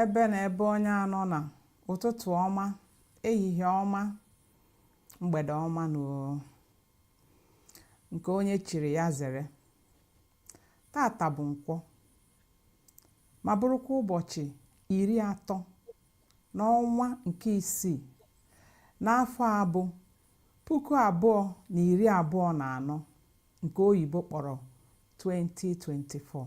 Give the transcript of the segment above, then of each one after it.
ebe na ebe onye anọ na ụtụtụ ọma ehihie ọma mgbede ọma na nke onye chiri ya zere tata bụ nkwọ ma bụrụkwa ụbọchị iri atọ n'ọnwa nke isii n'afọ a bụ puku abụọ na iri abụọ na anọ nke oyibo kpọrọ 2024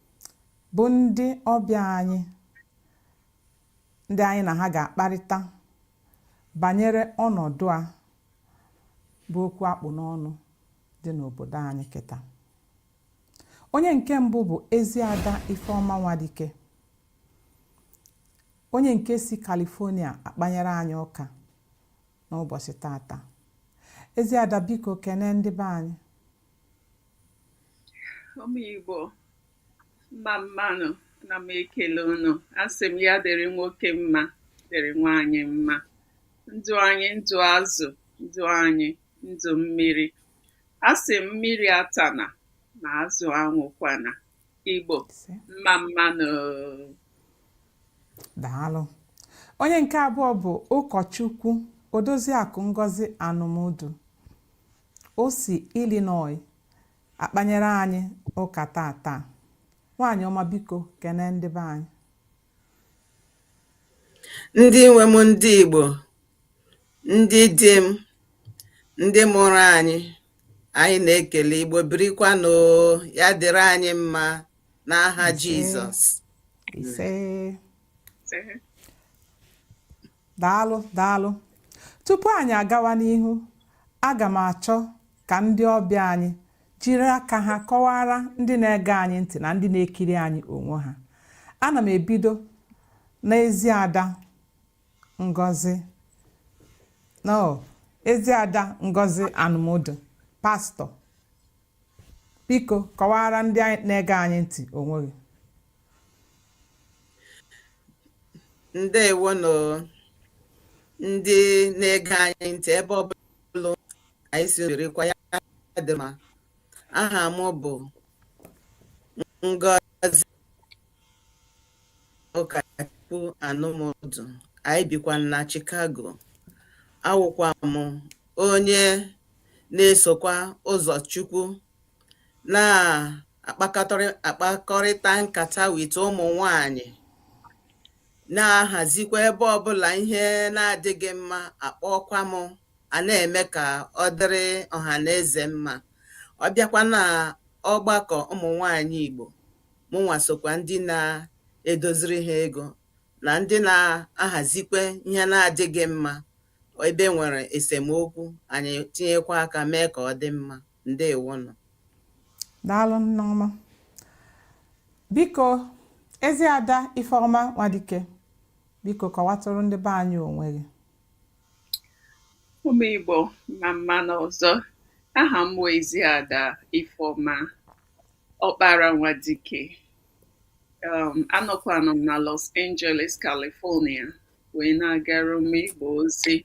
bụ ndị ọbịa anyị ndị anyị na ha ga-akparịta banyere ọnọdụ a bụ okwu a kpụ n'ọnụ dị n'obodo anyị kịta onye nke mbụ bụ Eziada Ifeọma Nwadike onye nke si California akpanyere anyị ụka n'ụbọchị tata Eziada biko kene ndị be anyị ụmụ Igbo mma mma nụ na m ekele unu asị m ya dịrị nwoke mma dịrị nwaanyị mma ndụ anyị ndụ azụ ndụ anyị ndụ mmiri asị m mmiri atana ma azụ anwụkwana Igbo mma mma nụ daalụ onye nke abụọ bụ ụkọchukwu odoziakụ Ngozi Anụmụdụ O si Illinois akpanyere anyị ụka tata. Nwaanyị ọma biko kene ndị be anyị. Ndị nwe m ndị Igbo, ndị di m, ndị mụrụ anyị, anyị na-ekele Igbo birikwanụ ya dịrị anyị mma n'aha Jizọs. Ise. daalụ daalụ tupu anyị agawa n'ihu aga m achọ ka ndị ọbịa anyị jiri aka ha kọwaara ndị na-ege anyị ntị na ndị na-ekiri anyị onwe ha ana m ebido n'Eziada Ngozi no Eziada Ngozi Anụmụdụ pastor Biko kọwaara ndị na-ege anyị ntị onwe gị. Ndewonụ ndị na-ege anyị ntị ebe ọ bụla anyị si dịrịkwa ya dị mma. Aha m bụ Ngozika Anụmụdụ. Anyị bikwa na Chicago. Awụkwa m onye na-esokwa ụzọ Chukwu na-akpakọrịta nkata with ụmụ nwanyị, na-ahazikwa ebe ọbụla ihe na-adịghị mma a kpọọkwa m, a na-eme ka ọ dịrị ọha na eze mma. Ọ bịakwa na ọgbakọ ụmụ nwanyị Igbo, mụnwa sokwa ndị na-edoziri ha ego na ndị na-ahazikwa ihe na-adịghị mma. ọ ebe e nwere esemokwu anyị tinyekwa aka mee ka ọ dị mma ndewo nụ daalụ nneọma biko eziada ifeọma nwadike biko kọwatụrụ ndị be anyị onwe gị ụmụ igbo mma mma nụ ọzọ aha m bụ eziada ifeọma ọkpara nwadike um, anọkwanụ m na los angeles california wee na-agara ụmụ Igbo ozi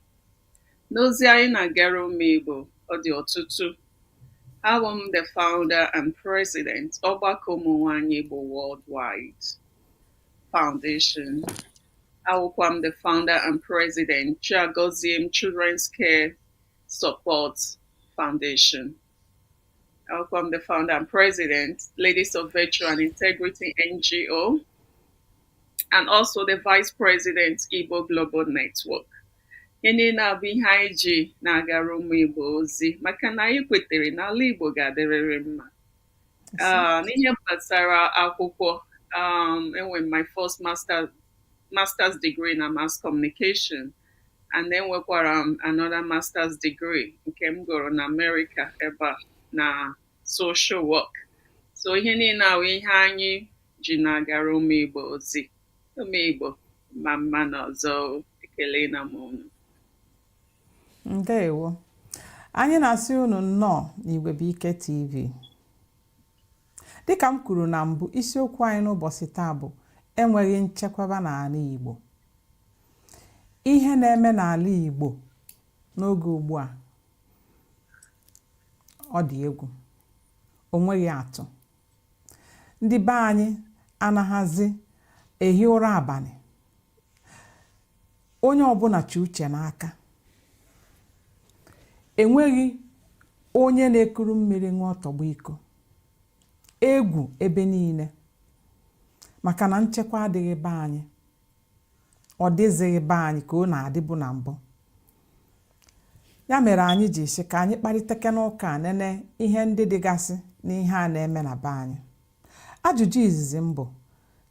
n'ozi anyị na-agara ụmụ Igbo ọ dị ọtụtụ awụ m the founder and president ọgbakọ ụmụ nwanyị Igbo worldwide foundation awụkwa m the founder and president Chiagoziem Children's Care Support Foundation Awụkwa m the founder and president, Ladies of Virtue and Integrity NGO, and also the vice president, Igbo Global Network. ihe niile a bụ ihe anyị ji na-agara ụmụ Igbo ozi maka na anyị kwetere na ala Igbo ga-adịrịrị mma ah, n'ihe gbasara akwụkwọ um, enwere m my first master's degree na mass communication and enwekwara m um, another master's degree nke m gụrụ na Amerịka ebe a na social work so ihe niile a wụ ihe anyị ji na-agara ụmụ Igbo ozi ụmụ Igbo mma mma nụ ọzọ ekelena m unu ndewo anyị na-asị unu nnọọ n'Igwebuike TV Dịka m kwuru na mbụ, isiokwu anyị n'ụbọchị taa bụ enweghị nchekwaba n'ala Igbo. Ihe na-eme n'ala Igbo n'oge ugbu a ọ dị egwu, o nweghị atụ. Ndị be anyị anaghịzi ehi ụra abalị. onye ọbụla chị uche n'aka enweghị onye na-ekuru mmiri ṅụọ tọgbọ iko egwu ebe niile maka na nchekwa adịghị be anyị ọ dịzighị be anyị ka ọ na-adịbu na mbụ ya mere anyị ji sị ka anyị kparịtakene ụka nene ihe ndị dịgasị n'ihe a na-eme na be anyị ajụjụ izizi m bụ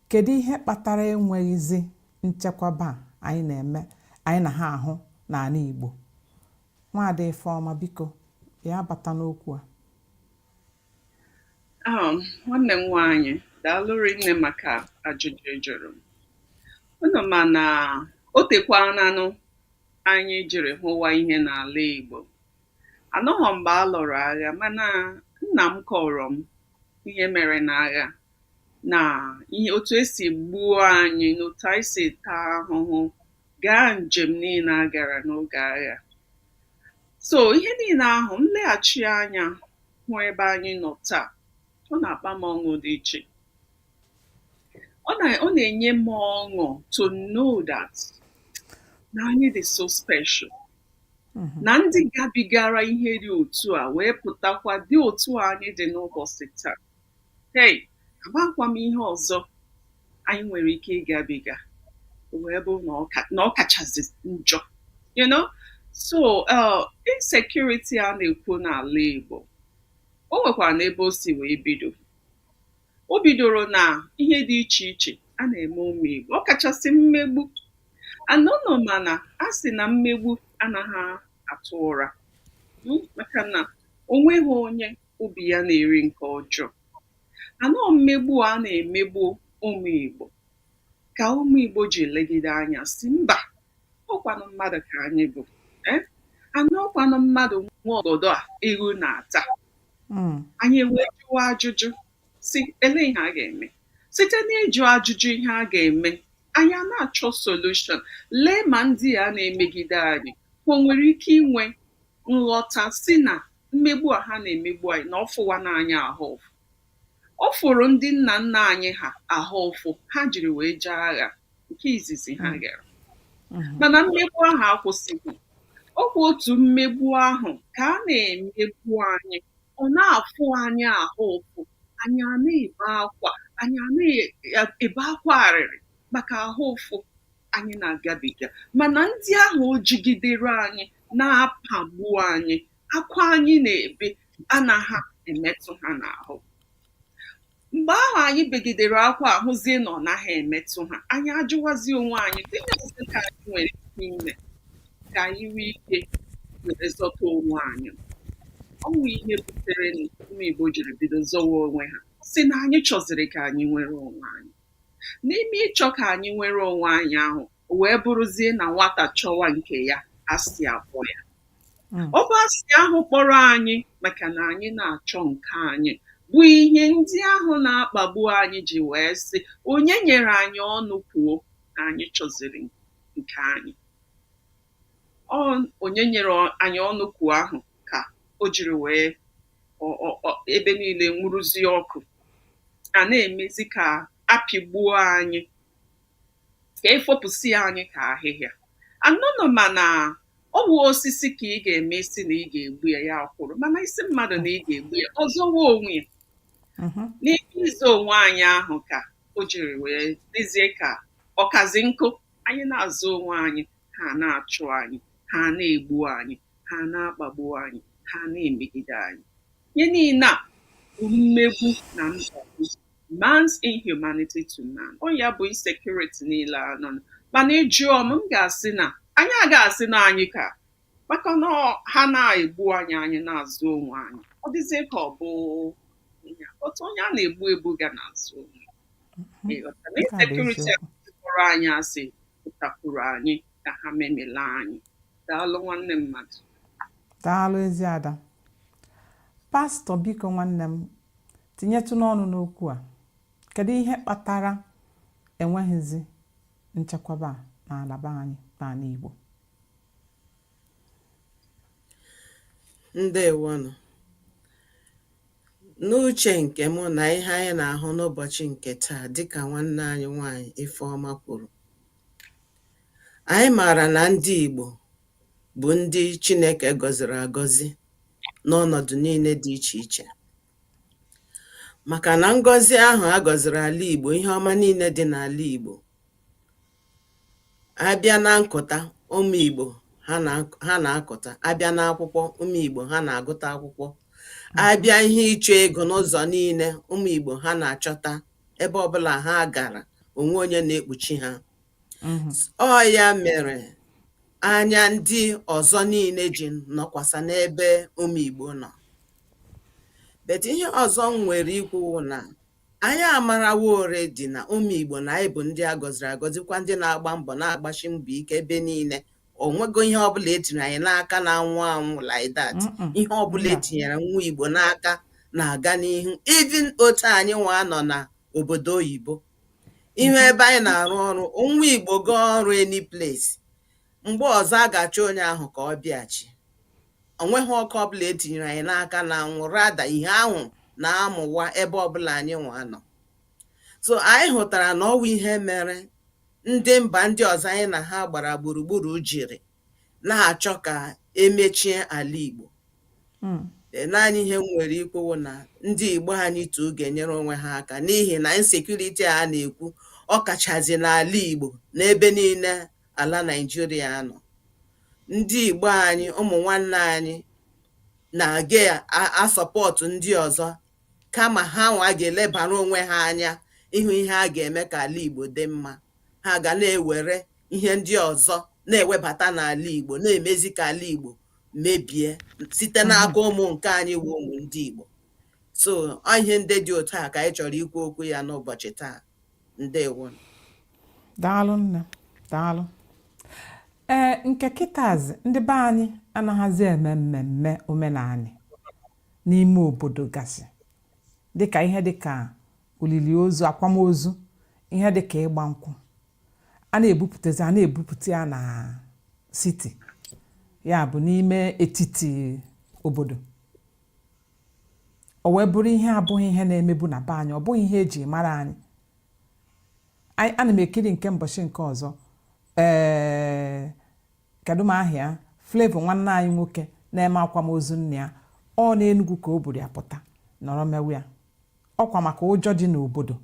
Kedu ihe kpatara enweghịzi nchekwaba anyị na-eme anyị na ha ahụ n'ala Igbo? Nwaada Ifeọma biko ya bata n'okwu a. Um, nwanne m nwaanyị daalụ rinne maka ajụjụ ị jụrụ m. Unu ma na o tekwananụ anyị jiri hụwa ihe n'ala Igbo. Anọghọ m mgbe a lụrụ agha mana nna m kọrọ m ihe mere n'agha na ihe otu e si gbuo anyị na otu anyị si taa ahụhụ gaa njem niile a gara n'oge agha so ihe niile ahụ m leghachi anya hụ ebe anyị nọ taa ọ na-akpa m ọṅụ dị iche ọ na ọ na-enye m ọṅụ to know that na anyị dị so special mm-hmm. na ndị gabigara ihe dị otu a wee pụtakwa dị otu a anyị dị n'ụbọchị taa hey amakwa m ihe ọzọ anyị nwere ike ịgabiga wee bụ na ọ kachazi njọ you know so uh, insecurity a na-ekwu n'ala Igbo o nwekwaranụ ebe o si wee bido o bidoro na ihe dị iche iche a na-eme ụmụ Igbo ọ kachasị mmegbu and unu ma na a sị na mmegbu anaghị atụ ụra hmm, maka na o nweghị onye obi ya na-eri nke ọjọọ and ọ mmegbu a na-emegbu ụmụ Igbo ka ụmụ Igbo ji legide anya sị mba ọkwanụ mmadụ ka anyị bụ eh? and ọkwanụ mmadụ nwe ọgọdọ ewu na-ata hmm. anyị ewee jụwa ajụjụ sị elee ihe a ga-eme site n'ịjụ ajụjụ ihe a ga-eme anyị a na-achọ solution lee ma ndị a na-emegide anyị o nwere ike inwe nghọta sị na mmegbu a ha na-emegbu anyị na ọ fụwana anyị ahụ Ọ fụrụ ndị nna nna anyị ha ahụ ụfụ ha jiri wee jee agha nke izizi ha mm. gara mm-hmm. mana mmegbu ahụ akwụsịghị ọkwa otu mmegbu ahụ ka a na-emegbu anyị ọ na-afụ anyị ahụ ụfụ anyị a na-ebe akwa anyị a na-ebe akwa arịrị maka ahụ ụfụ anyị na-agabiga mana ndị ahụ o jigidere anyị na-apagbu anyị akwa anyị na-ebe anaghị emetụ ha n'ahụ mgbe ahụ anyị begidere akwa ahụzie na ọ naghị emetụ ha anyị ajụwazi onwe anyị gịnịzi ka anyị nwere ike ime ka anyị nwee ike were zọta onwe anyị ọ wụ ihe butere ụmụ Igbo jiri bido zọwa onwe ha sị na anyị chọziri ka anyị nwere onwe anyị n'ime ịchọ ka anyị nwere onwe anyị ahụ o wee bụrụzie na nwata chọwa nke ya asị akpọ ya Mm. ọ bụ asị ahụ kpọrọ anyị maka na anyị na-achọ nke anyị bụ ihe ndị ahụ na-akpagbu anyị ji wee sị onye nyere anyị ọnụ kwuo na anyị chọziri nke anyị ọ onye nyere ọ- anyị ọnụ kwuo ahụ ka o jiri wee ọ- ọ- ọ- ebe niile nwuruzie ọkụ a na-emezi ka a pịgbuo anyị ka e fopụsịa anyị ka ahịhịa anụnụ mana ọ bụ osisi ka ị ga-eme ị sị na ị ga-egbu ya ya akwụrụ mana ị sị mmadụ na ị ga-egbu ya ọ zọwa onwe ya mhm. n'ime ịzọ onwe anyị ahụ ka o jiri wee dịzie ka ọ kazi nkọ anyị na-azọ onwe anyị ha na-achụ anyị ha na-egbu anyị ha na-akpagbu anyị ha na-emegide anyị ihe niile a bụ mmegbu na mkpagbu man's inhumanity to man ọ ya bụ insecurity niile anọ mana ị jụọ m m ga-asị na anyị a ga-asị na anyị ka maka na ha na-egbu anyị anyị na-azọ onwe anyị ọ dịzie ka ọ bụ otu onye a na-egbu egbu ga na-azọ onwe mm-hmm. insecurity kpọrọ anyị asị pụtakwuru anyị ka ha memela anyị daalụ nwanne mmadụ daalụ ezi ada pastọ biko nwanne m Tinyetụnụ ọnụ n'okwu a, kedu ihe kpatara enweghịzi nchekwaba n'ala be anyị n'ala Igbo? Ndewonụ. N'uche nke mụ na ihe anyị na-ahụ n'ụbọchị nke taa dịka nwanne anyị nwanyị Ifeọma kwuru, anyị maara na ndị Igbo bụ ndị Chineke gọziri agọzi n'ọnọdụ niile dị iche iche màkà nà ngọzi ahụ̀ a gọ̀zìrì àla ìgbò ihe ọma niilė dị n'àla ìgbò a bịa na nkụ̀ta ụmụ̀ ìgbò ha nà akụ̀ta a bịa na akwụkwọ ụmụ̀ ìgbò ha nà àgụta akwụkwọ a bịa ihe ịchọ̇ egȯ n'ụzọ̀ niilė ụmụ̀ ìgbò ha nà àchọta ebe ọbụlà ha gàrà ò nwe onye nà ekpùchi hȧ mhm. ọ ya mere anya ndị ọzọ niile ji nọkwasa n'ebe ụmụ Igbo nọ but ihe ọzọ m nwere ikwu wụ na anyị amarawo already na ụmụ Igbo na anyị bụ ndị a gọziri agọzi kwa ndị na-agba mbọ na-agbasi mbọ ike ebe niile o nweghị ihe ọbụla e tinyere anyị n'aka na-anwụ anwụ like that ihe ọbụla e tinyere nwa Igbo n'aka na-aga n'ihu even otu anyị nwa nọ na obodo oyibo ị hụ ebe anyị na-arụ ọrụ nwa Igbo gaa ọrụ any place mgbe ọzọ a ga-achọ onye ahụ ka ọ bịa chị o nweghị ọkụ ọbụla etinyere anyị n'aka na-anwụ rather ihe ahụ na-amụwa ebe ọbụla anyị nwa nọ so anyị hụtara na ọ wụ ihe mere ndị mba ndị ọzọ anyị na ha gbara gburugburu jiri na-achọ ka e mechie ala Igbo hmm. e, naanị ihe m nwere ikwu na ndị Igbo anyị too ga-enyere onwe ha aka n'ihi na insecurity a na-ekwu ọ kachazi n'ala Igbo n'ebe niile ala Naịjirịa nọ ndị Igbo anyị ụmụ nwanne anyị na-aga a-support ndị ọzọ kama ha nwa ga-elebara onwe ha anya ịhụ ihe a ga-eme ka ala Igbo dị mma ha ga na-ewere ihe ndị ọzọ na-ewebata n'ala Igbo na-emezi ka ala Igbo mebie site mhm. n'aka ụmụ nke anyị wụ ụmụ ndị Igbo so ọ ihe ndị dị otu a ka anyị chọrọ ikwu okwu ya n'ụbọchị taa ndewo daalụ nne daalụ ee nke kịtazi ndị be anyị anaghịzi eme mmemme omenanị n'ime obodo gasị dịka ihe dịka olili ozu akwamozu ihe dịka ịgba nkwụ a na-ebupụtazi a na-ebupụta ya na city ya bụ n'ime etiti obodo o wee bụrụ ihe abụghị ihe na-emebu na be anyị ọ bụghị ihe e ji mara anyị ana m ekiri nke mbọchị nke ọzọ ee kedụ m aha ya Flavour nwanne anyị nwoke na-eme akwamozu nna ya ọ n'Enugwu ka o buru ya pụta nọrọ mewe ya ọkwa maka ụjọ dị n'obodo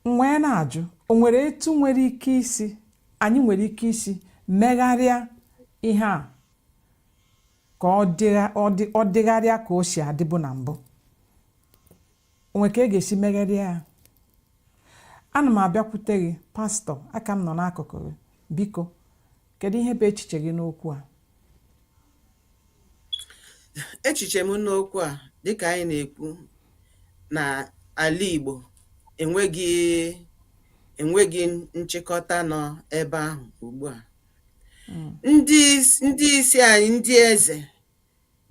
m wee na-ajụ o nwere etu nwere ike isi anyị nwere ike isi megharịa ihe a ka ọ dịgharịa ka o si adịbu na mbụ o nwe ka e ga-esi megharịa ya ana m abịakwute gị pastor aka m nọ n'akụkụ gị biko kedu ihe bụ echiche gị n'okwu a echiche m n'okwu a dịka anyị na-ekwu na ala Igbo enweghị enweghị nchịkọta nọ ebe ahụ ugbu a ndị ndị isi anyị ndị eze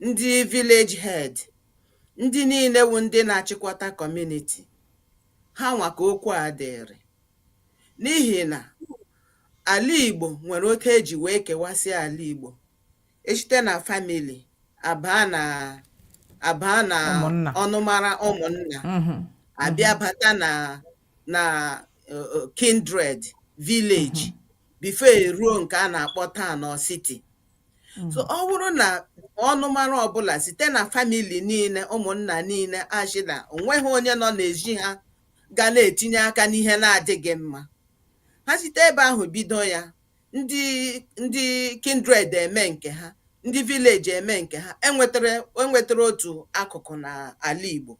ndị village head, ndị niile wụ ndị na-achịkọta community, ha nwa ka okwu a dịịrị. N'ihi na ala Igbo nwere otu e ji wee kewasịa ala Igbo. E site na family a baa na a baa na Ụmụnna. ọnụmara ụmụnna Mhm. a bịa bata na na uh, uh, kindred village before e ruo nke a na-akpọ town or city Mm. so ọ bụrụ na ọnụmara ọbụla site na famili niile ụmụnna niile asị na onweghị onye nọ n'ezi ha ga na-etinye aka n'ihe na-adịghị mma ha site ebe ahụ bido ya ndị ndị kindred eme nke ha ndị vileji eme nke ha enwetara enwetara otu akụkụ n'ala Igbo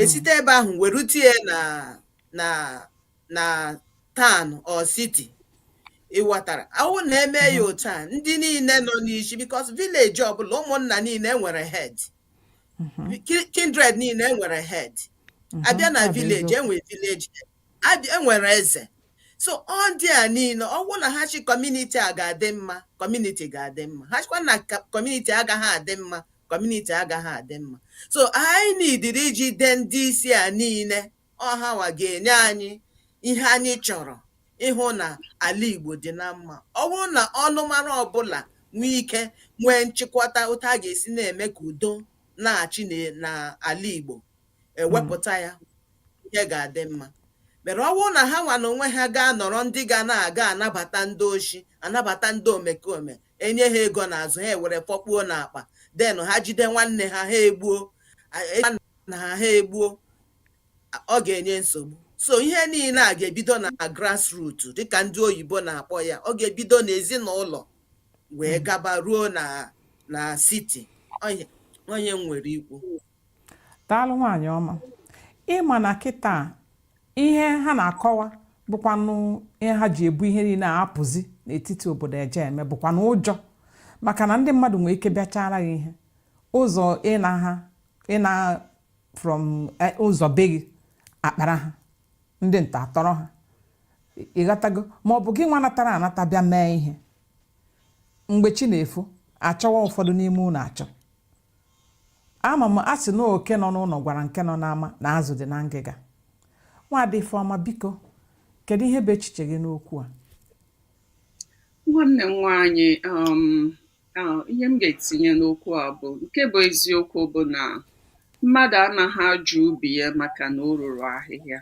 esite ebe ahụ werute ya na na na town or city ị ghọtara awụ na eme ya otu a ndị niile nọ n'isi because village ọbụla ụmụnna niile enwere head Ki- kindred niile enwere head abịa na ọ bụ village eziokwu. enwere village head. Abịa- enwere eze so ọ ndị a niile ọwụ na ha sị kọmuniti a ga-adị mma kọmuniti ga-adị mma ha sịkwa na ka- kọmuniti agaghị adị mma kọmuniti agaghị adị mma so anyị nidiri ijide ndị isi a niile ọ ha nwa ga-enye anyị ihe anyị chọrọ ịhụ na ala Igbo dị na mma ọ bụrụ na ọnụmara ọbụla nwee ike nwee nchịkwata otu a ga-esi na-eme ka udo na-achị n'ala Igbo ewepụta ya ihe ga-adị mma but ọ bụrụ na ha nwa na onwe ha gaa nọrọ ndị ga na-aga anabata ndị oshi anabata ndị omekome enye ha ego n'azụ ha ewere fọkpuo n'akpa then ha jide nwanne ha ha egbuo nna ha ha egbuo ọ ga-enye nsogbu so ihe niile a ga-ebido na grassroot dịka ndị oyibo na-akpọ ya ọ ga-ebido n'ezinụlọ wee gaba ruo na na siti ọ ihe m nwere ikwu daalụ nwaanyị ọma ịma na kịta ihe ha na-akọwa bụkwanụ ihe ha ji ebu ihe niile a apụzi n'etiti obodo eje eme bụkwanụ ụjọ maka na ndị mmadụ nwere ike bịachaara gị ihe ụzọ ịna ha ịna from eh, ụzọ be gị akpara ha ndị ntọ atọrọ ha ịghọtago ma ọ bụ gị nwa natara anata bịa mee ihe mgbe chi na-efo achọwa ụfọdụ n'ime ụlọ achọ ama m a sị na oke nọ n'ụlọ gwara nke nọ n'ama na azụ dị na ngịga nwaada Ifeọma biko kedu ihe bụ echiche gị n'okwu a nwanne m nwaanyị um, Ah, ihe m ga-etinye n'okwu a bụ nke bụ eziokwu bụ na mmadụ anaghị ajụ ubi ya maka na o ruru ahịhịa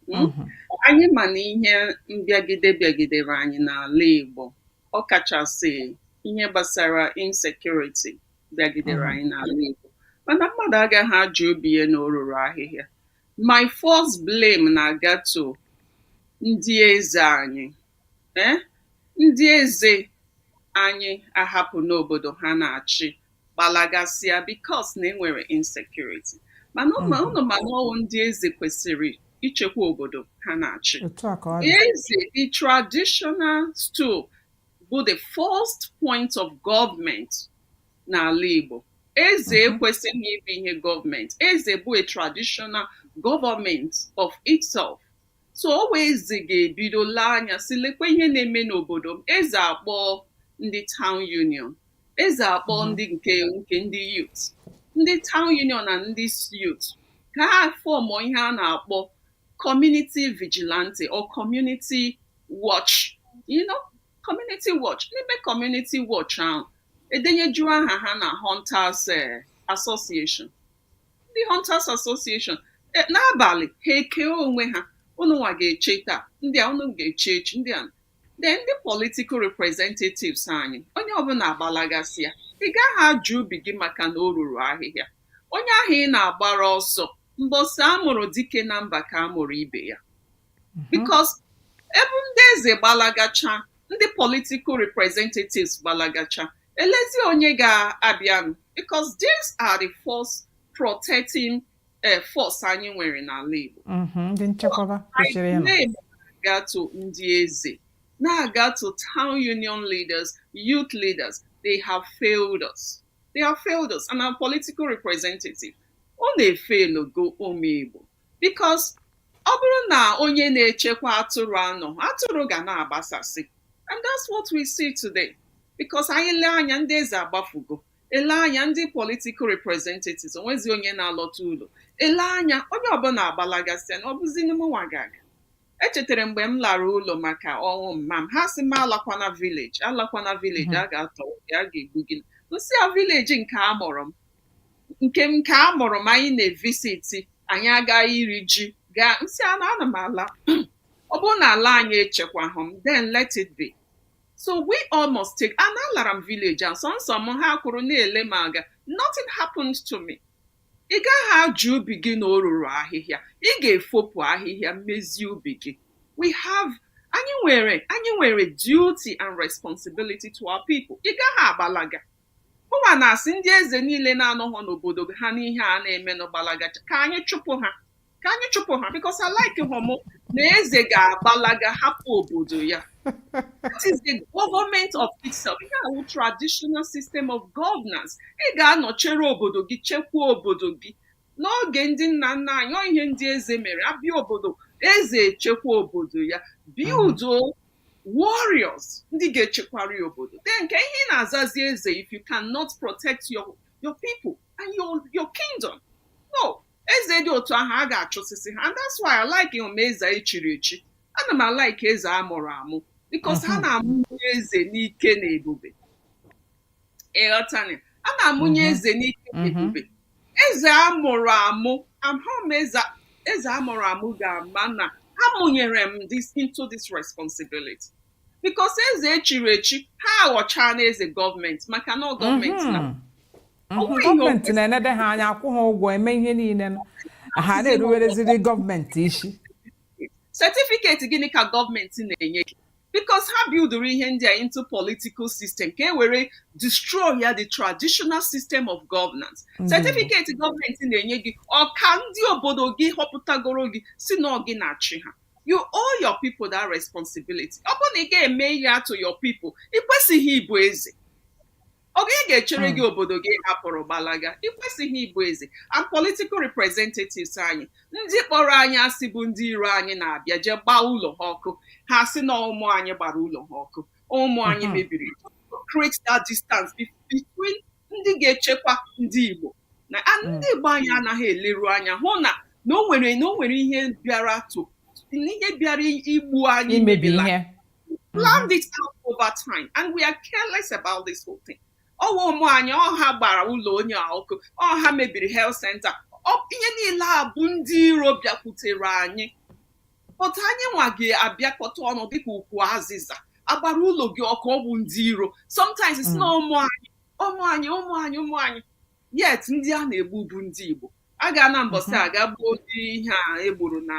hmm? mhm. anyị ma na ihe mbịagide bịagidere anyị n'ala Igbo ọ kachasị ihe gbasara insekuriti bịagidere mhm. anyị n'ala Igbo mana mmadụ agaghị ajụ ubi ya na o ruru ahịhịa my first blame na-aga to ndị eze anyị ee ndị eze anyị ahapụ n'obodo ha na-achị gbalagasịa because na e nwere insecurity mana unu ma na ọ wụ ndị eze kwesịrị ichekwa obodo ha na-achị otu a ka ọ dị eze the traditional stool bụ the first point of government n'ala Igbo eze ekwesịghị ịbụ ihe government eze bụ a traditional government of itself so ọ wụ eze ga-ebido lee anya sị lekwa ihe na-eme n'obodo m eze akpọ ndị town union eze akpọ mm-hmm. ndị nke nke ndị youth ndị town union na ndị youth ka ha fọmụ ihe a na-akpọ community vigilante or community watch you know community watch n'ime community watch ahụ e denyejuo aha ha na hunters eh, association ndị Hunters Association e, n'abalị ha ekee onwe ha unu nwa ga-eche taa ndị a unu ga-eche echi ndị a then ndị political representatives anyị onye ọbụla agbalagasị ya ị gaghị ajụ ubi gị maka na o ruru ahịhịa onye ahụ ị na-agbara ọsọ mbọsị a mụrụ dike na mba ka a mụrụ ibe ya mhm. because ebe ndị eze gbalagacha ndị political representatives gbalagacha Elezi onye ga-abịanụ because these are the first protecting eh, force anyị nwere n'ala Igbo. Mhm, Ndị nchekwaba kwesịrị ịnọ. Anyị na-aga to ndị eze, na-aga to town union leaders, youth leaders, they have failed us. They have failed us and our political representative. Unu efeelụgo ụmụ Igbo. because ọ bụrụ na onye na-echekwa atụrụ anọ atụrụ ga na-agbasasị and that's what we see today because anyị lee anya ndị eze agbafugo e lee anya ndị political representatives o nwezi onye na-alọta ụlọ e lee anya onye ọbụla agbalagasịa na ọ bụzi mụnwa ga-aga echetara mgbe m lara ụlọ maka ọnwụ mma m ha sị m alakwana village alakwana village a ga-atọ gị a ga-egbu gị m sị a village nke a mụrụ m nke m nke a mụrụ m anyị na-evisiti anyị aga iri ji gaa m sị ana ana m ala ọ bụrụ na ala anyị echekwahụ m then let it be so we all must take ana alara m village ahụ sọnsọ m ha kwụrụ na-ele m aga nothing happened to me ị gaghị ajụ ubi gị na o ruru ahịhịa ị ga-efopụ ahịhịa mezie ubi gị we have anyị nwere anyị nwere duty and responsibility to our people ị gaghị agbalaga Mụwa na-asị ndị eze niile na-anọghọ n'obodo ha n'ihe a na-emenụ gbalaga ka anyị chụpụ ha ka anyị chụpụ ha because alikehụ m na eze ga-agbalaga hapụ obodo ya that is the government of itself ihe a wụ traditional system of governance ị ga-anọchere obodo gị chekwaa obodo gị n'oge ndị nna nna anyị ọ ihe ndị eze mere a bịa obodo eze echekwa obodo ya biudo warriors ndị ga-echekwara ya obodo then kee ihe ị na-azazi eze if you cannot protect your your people and your your kingdom no eze dị otu ahụ a ga-achụsịsị ha and that's why alikeghị m eze echiri echi ana m alike eze a mụrụ amụ because ha na-amụ eze n'ike na ebube ị ghọtani a na-amụnye Mhm. eze n'ike Mhm. ebube eze a mụrụ amụ amụrụ m eze eze a mụrụ amụ ga-ama na amụnyere m this into this responsibility because eze echiri echi ha aghọchaana eze gọọmenti maka na ọ gọọmenti na Mhm. Mhm. Onwe ihe gọọmenti ofesi. na-enede ha anya akwụ ha ụgwọ eme ihe niile nọ. ha na-eruwereziri gọọmenti isi setifiketi gịnị ka gọọmenti na-enye gị because ha bildụrụ ihe ndị a into political system ka e were destroy ya the traditional system of governance certificate gọọmenti na-enye gị ọ ka ndị obodo gị họpụtagoro gị sị na ọ gị na-achị ha you owe your people that responsibility ọ bụrụ na ị ga-eme ihe a to your people ị kwesịghị ịbụ eze ọ gịnị ga-echere gị hmm. obodo gị ị hapụrụ gbalaga ị kwesịghị ịbụ eze and political representatives anyị ndị kpọrọ anyị asị bụ ndị iro anyị na-abịa jee gbaa ụlọ ha ọkụ ha asị na ọ ụmụ anyị gbara ụlọ ha ọkụ ụmụ anyị hmm. mebiri create that distance between ndị ga-echekwa ndị Igbo na hmm. ndị Igbo anyị anaghị eleru anya hụ na na o nwere na o nwere ihe bịara to ihe bịara igbu anyị imebila plan mm-hmm. this out over time and we are careless about this whole thing ọ wụ ụmụ anyị ọ ha gbara ụlọ onye a ọkụ ọ ha mebiri health center ihe niile a bụ ndị iro bịakwutere anyị but anyị nwa ga-abịakọta ọnụ dịka ukwu azịza agbara ụlọ gị ọkụ ọ bụ ndị iro sometimes sị na mm. ụmụ anyị ụmụ anyị ụmụ anyị ụmụ anyị yet ndị a na-egbu bụ ndị Igbo a ga na mbọsị a ga gbuo ndị ihe a egburu na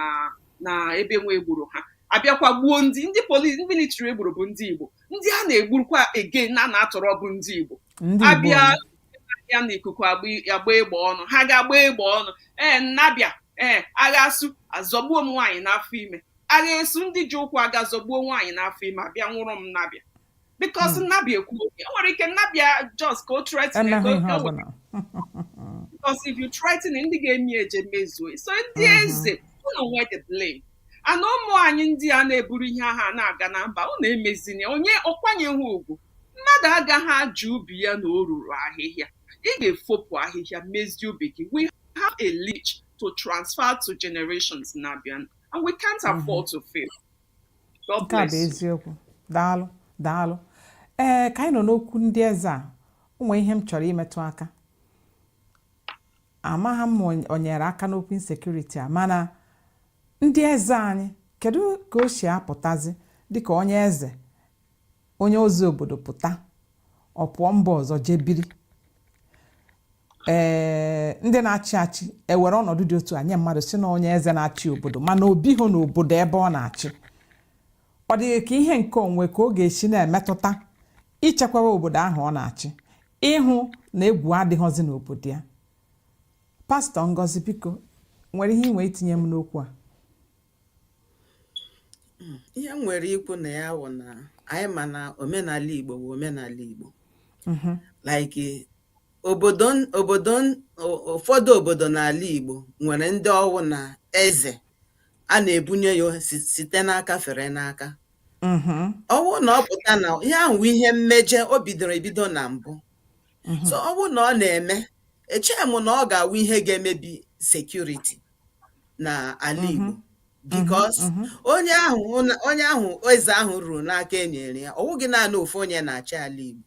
na ebe nwa egburu ha abịakwa gbuo ndị ndị polisi ndị military egburu bụ ndị Igbo ndị a na-egburukwa again na-atọrọ bụ ndị Igbo abịa n'ikuku agba egbe ọnụ ha ga-agba egbe ọnụ ee m na-abịa ee agha esu azọgbuo nwaanyị n'afọ ime agha esu ndị ji ụkwụ aga azọgbuo nwaanyị n'afọ ime abịa nwụrụ m na-abịa because hmm. m na-abịa ekwu oge o nwere ike na-abịa just ka o threaten because if you threaten ndị ga-eme ya eje mezuo ya so ndị hmm. eze unu nwe the blame and ụmụ anyị ndị a na-eburu ihe aha na-aga na mba unu emezina ya ọ kwanyeghị ugwu mmadụ agaghị ajụ ubi ya na o ruru ahịhịa ị ga-efopụ ahịhịa mezie ubi gị we have a heritage to transfer to generations na-abịa and we can't hmm. afford to fail nke a bụ eziokwu daalụ daalụ ee ka anyị nọ n'okwu ndị eze a o nwe ihe m chọrọ imetụ aka amaghị m o nyere aka n'okwu insecurity a mana ndị eze anyị kedu ka o si apụtazi dịka onye eze onye ozi obodo pụta ọ pụọ mba ọzọ jee biri ee eh, ndị na-achị achị ewere ọnọdụ dị otu a nye mmadụ sị na onye eze na-achị obodo mana o bighị na obodo ebe ọ na-achị ọ dị gị ka ihe nke o nwe ka ọ ga-esi na-emetụta ichekwawa obodo ahụ ọ na-achị ịhụ na egwu adịghịzi n'obodo ya pastor ngozi biko o nwere ihe i nwe itinye m n'okwu a ihe m nwere ikwu na ya wụ na anyị ma na omenala Igbo bụ omenala Igbo mhm. like obodo obodo ụfọdụ obodo n'ala Igbo nwere ndị ọ wụ na eze a na-ebunye ya site n'aka fere n'aka mhm. ọ wụ na ọ pụta na ihe ahụ ihe mmeje o bidoro ebido na mbụ mhm. so ọ bụrụ na ọ na-eme echeghị m na ọ ga-awụ ihe ga-emebi security na ala mhm. Igbo because onye ahụ onye ahụ eze ahụ ruru n'aka e nyere ya ọ wụghị naanị ofu onye na-achị ala Igbo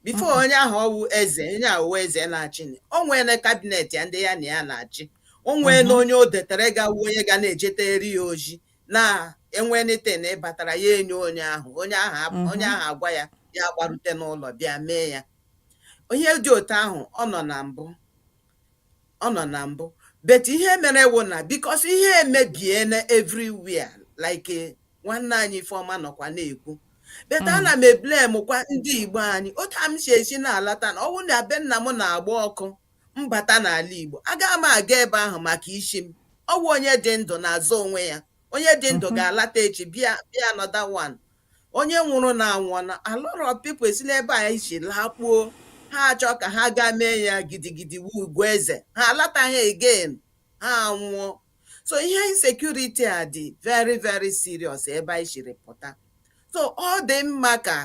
before onye ahụ ọ wụ eze onye ahụ eze na-achị o nweela cabinet ya ndị ya na ya na-achị o nweela onye o detere ga-awụ onye ga na-ejetere ya ozi na e nwee anything batara ya enye onye ahụ onye ahụ onye ahụ agwa ya ya agbarute n'ụlọ bịa mee ya ihe dị otu ahụ ọ nọ na mbụ ọ nọ na mbụ but ihe mere wụ na because ihe emebiela everywhere like nwanne anyị ifeọma nọkwa na-ekwu but mm. ana m eblemkwa ndị igbo anyị otu a m si esi na-alata na ọ wụ na be nna m na-agba ọkụ m bata n'ala Igbo, agaghị m aga ebe ahụ maka isi m. Ọ wụ onye dị ndụ na-azọ onwe ya. Onye dị ndụ mhm. ga-alata echi bịa bịa another one. Onye nwụrụ na anwụọna a lot of people si n'ebe a isi lakpuo ha achọ ka ha gaa mee ya gidigidi wu eze ha alataghị again ha anwụọ so ihe insecurity a dị very very serious ebe anyị siri pụta so ọ dị mma ka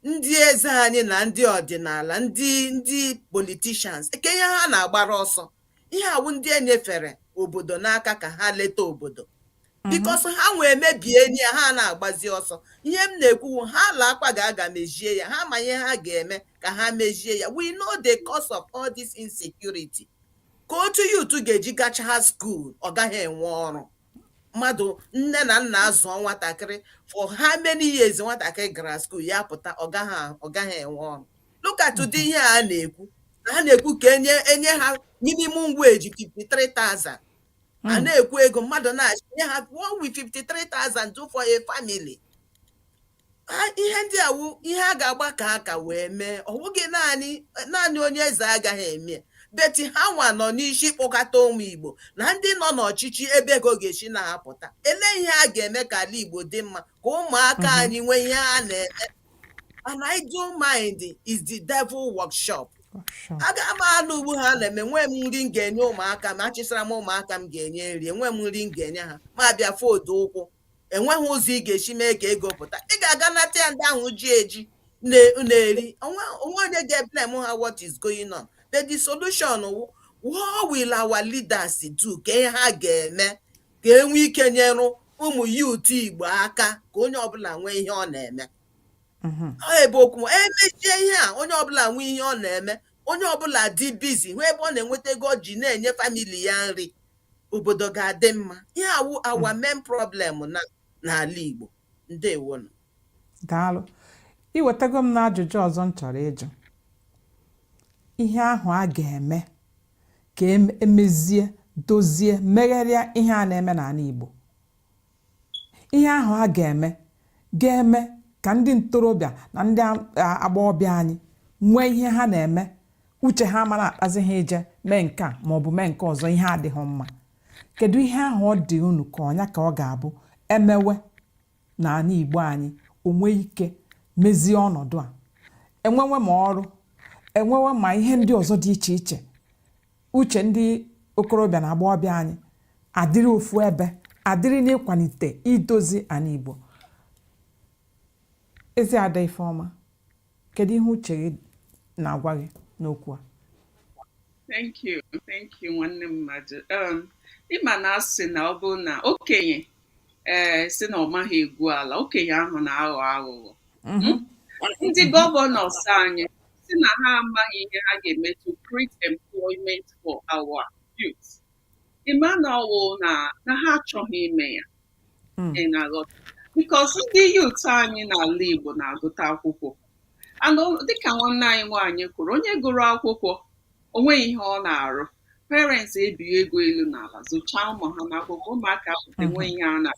ndị eze anyị na ndị ọdịnala ndị ndị politicians kee ihe ha na-agbara ọsọ ihe a wụ ndị e nyefere obodo n'aka ka ha leta obodo because ha nwa emebiene ya ha na-agbazi ọsọ ihe m na-ekwu wụ ha laakwa ga-aga mezie ya ha ma ihe ha ga-eme ka ha mezie ya we know the cause of all this insecurity ka otu youth ga-eji gachaa school ọ gaghị enwe ọrụ mmadụ nne na nna azụọ nwatakịrị for how many years nwatakịrị gara skuul ya pụta ọ gaghị ọ gaghị enwe ọrụ look at ụdị ihe a na-ekwu na ha na-ekwu ka enye enye ha minimum wage 53,000 a na-ekwu ego mmadụ na-achị nye ha what will 53,000 do for a family ihe ndị a wụ ihe a ga-agbakọ aka wee mee ọ bụghị naanị naanị onye eze agaghị eme but ha nwa nọ n'isi kpọkọta ụmụ igbo na ndị nọ n'ọchịchị ebe ego ga-esi na-apụta ele ihe a ga-eme ka ala igbo dị mma ka ụmụaka mhm. anyị nwee ihe a na-eme an idle mind is the devil workshop aga m anọ ugbu a na-eme enwe m nri m ga-enye ụmụaka m achịsara m ụmụaka m ga-enye nri enwe m nri m ga-enye ha m abịa fold ụkwụ enweghị ụzọ ị ga-esi mee ka ego pụta ị ga-aga nata ya ndị ahụ ji eji na-eri o nwe onye ga-eblame ha what is going on but the solution wụ what will our leaders do kee ihe ha ga-eme ka e nwee ike nyerụ ụmụ youth igbo aka ka onye ọbụla nwee ihe ọ na-eme mhm. ọ ebe okwu m, emechie ihe a onye ọbụla nwee ihe ọ na-eme onye ọbụla dị busy hụ ebe ọ na-enweta ego ọ ji na-enye family ya nri obodo ga-adị mma ihe a wụ our hmm. main problem na n'ala Igbo ndewonụ daalụ iwetago m n'ajụjụ ọzọ m chọrọ ịjụ ihe ahụ a ga-eme ka emezie dozie megharịa ihe a na-eme n'ala Igbo Ihe ahụ a ga-eme ga-eme ka ndị ntorobịa na ndị agbọghọbịa anyị nwee ihe ha na-eme uche ha mara akpazi ha ije mee nke a ma ọ bụ mee nke ọzọ ihe adịghị mma kedu ihe ahụ ọ dị unu ka ọ nya ka ọ ga-abụ e mewe na anị Igbo anyị o nwee ike mezie ọnọdụ a enwewe ma ọrụ enwewe ma ihe ndị ọzọ dị iche iche uche ndị okorobịa na agbọghọbịa anyị adịrị ofu ebe adịrị n'ịkwalite idozi anị Igbo ezi ada Ifeọma kedu ihe uche gị na-agwa gị n'okwu a thank you thank you nwanne mmadụ um, ịma na a sị na ọ bụrụ na okenye ee eh, si na ọ maghị egwu ala okenye ahụ na-aghọ aghụghọ mhm. hmm? ndị governors anyị si na ha amaghị ihe ha ga-eme to create employment for our youth ịma na ọ wụ na na ha achọghị ime ya Mm. ị na-aghọta because ndị youth anyị n'ala igbo na-agụta akwụkwọ and o- dịka nwanne anyị nwaanyị kwuru onye gụrụ akwụkwọ o nweghị ihe ọ na-arụ parents ebie ego elu na ala zụchaa ụmụ ha n'akwụkwọ ụmụaka pụta enwe ihe a na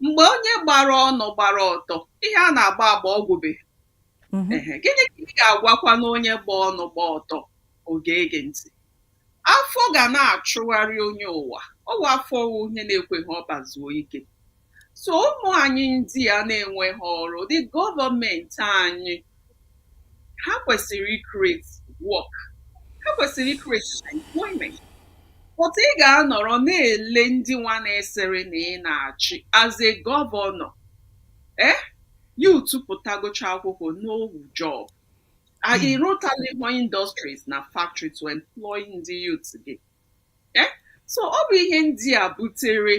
mgbe onye gbara ọnụ gbara ọtọ ihe a na-agba agba ọ gwụbe mhm. gịnị ka ị ga-agwakwanụ onye gba ọnụ gba ọtọ ọ ga-ege ntị afọ ga na-achụgharị onye ụwa ọwa afọ onye na-ekweghị ọbazuo ike so ụmụ anyị ndị a na-enweghị ọrụ ndị gọọmenti anyị ha kwesịrị ikreti work ha kwesịrị ikreti employment but ị ga-anọrọ na-ele ndị nwa na-asịrị na ị na-achị as a gọvanọ ee eh? yut pụtagocha akwụkwọ no job hmm. ị rụtalịhụ industries na factory to employ ndị yut gị eh? so ọ bụ ihe ndị a butere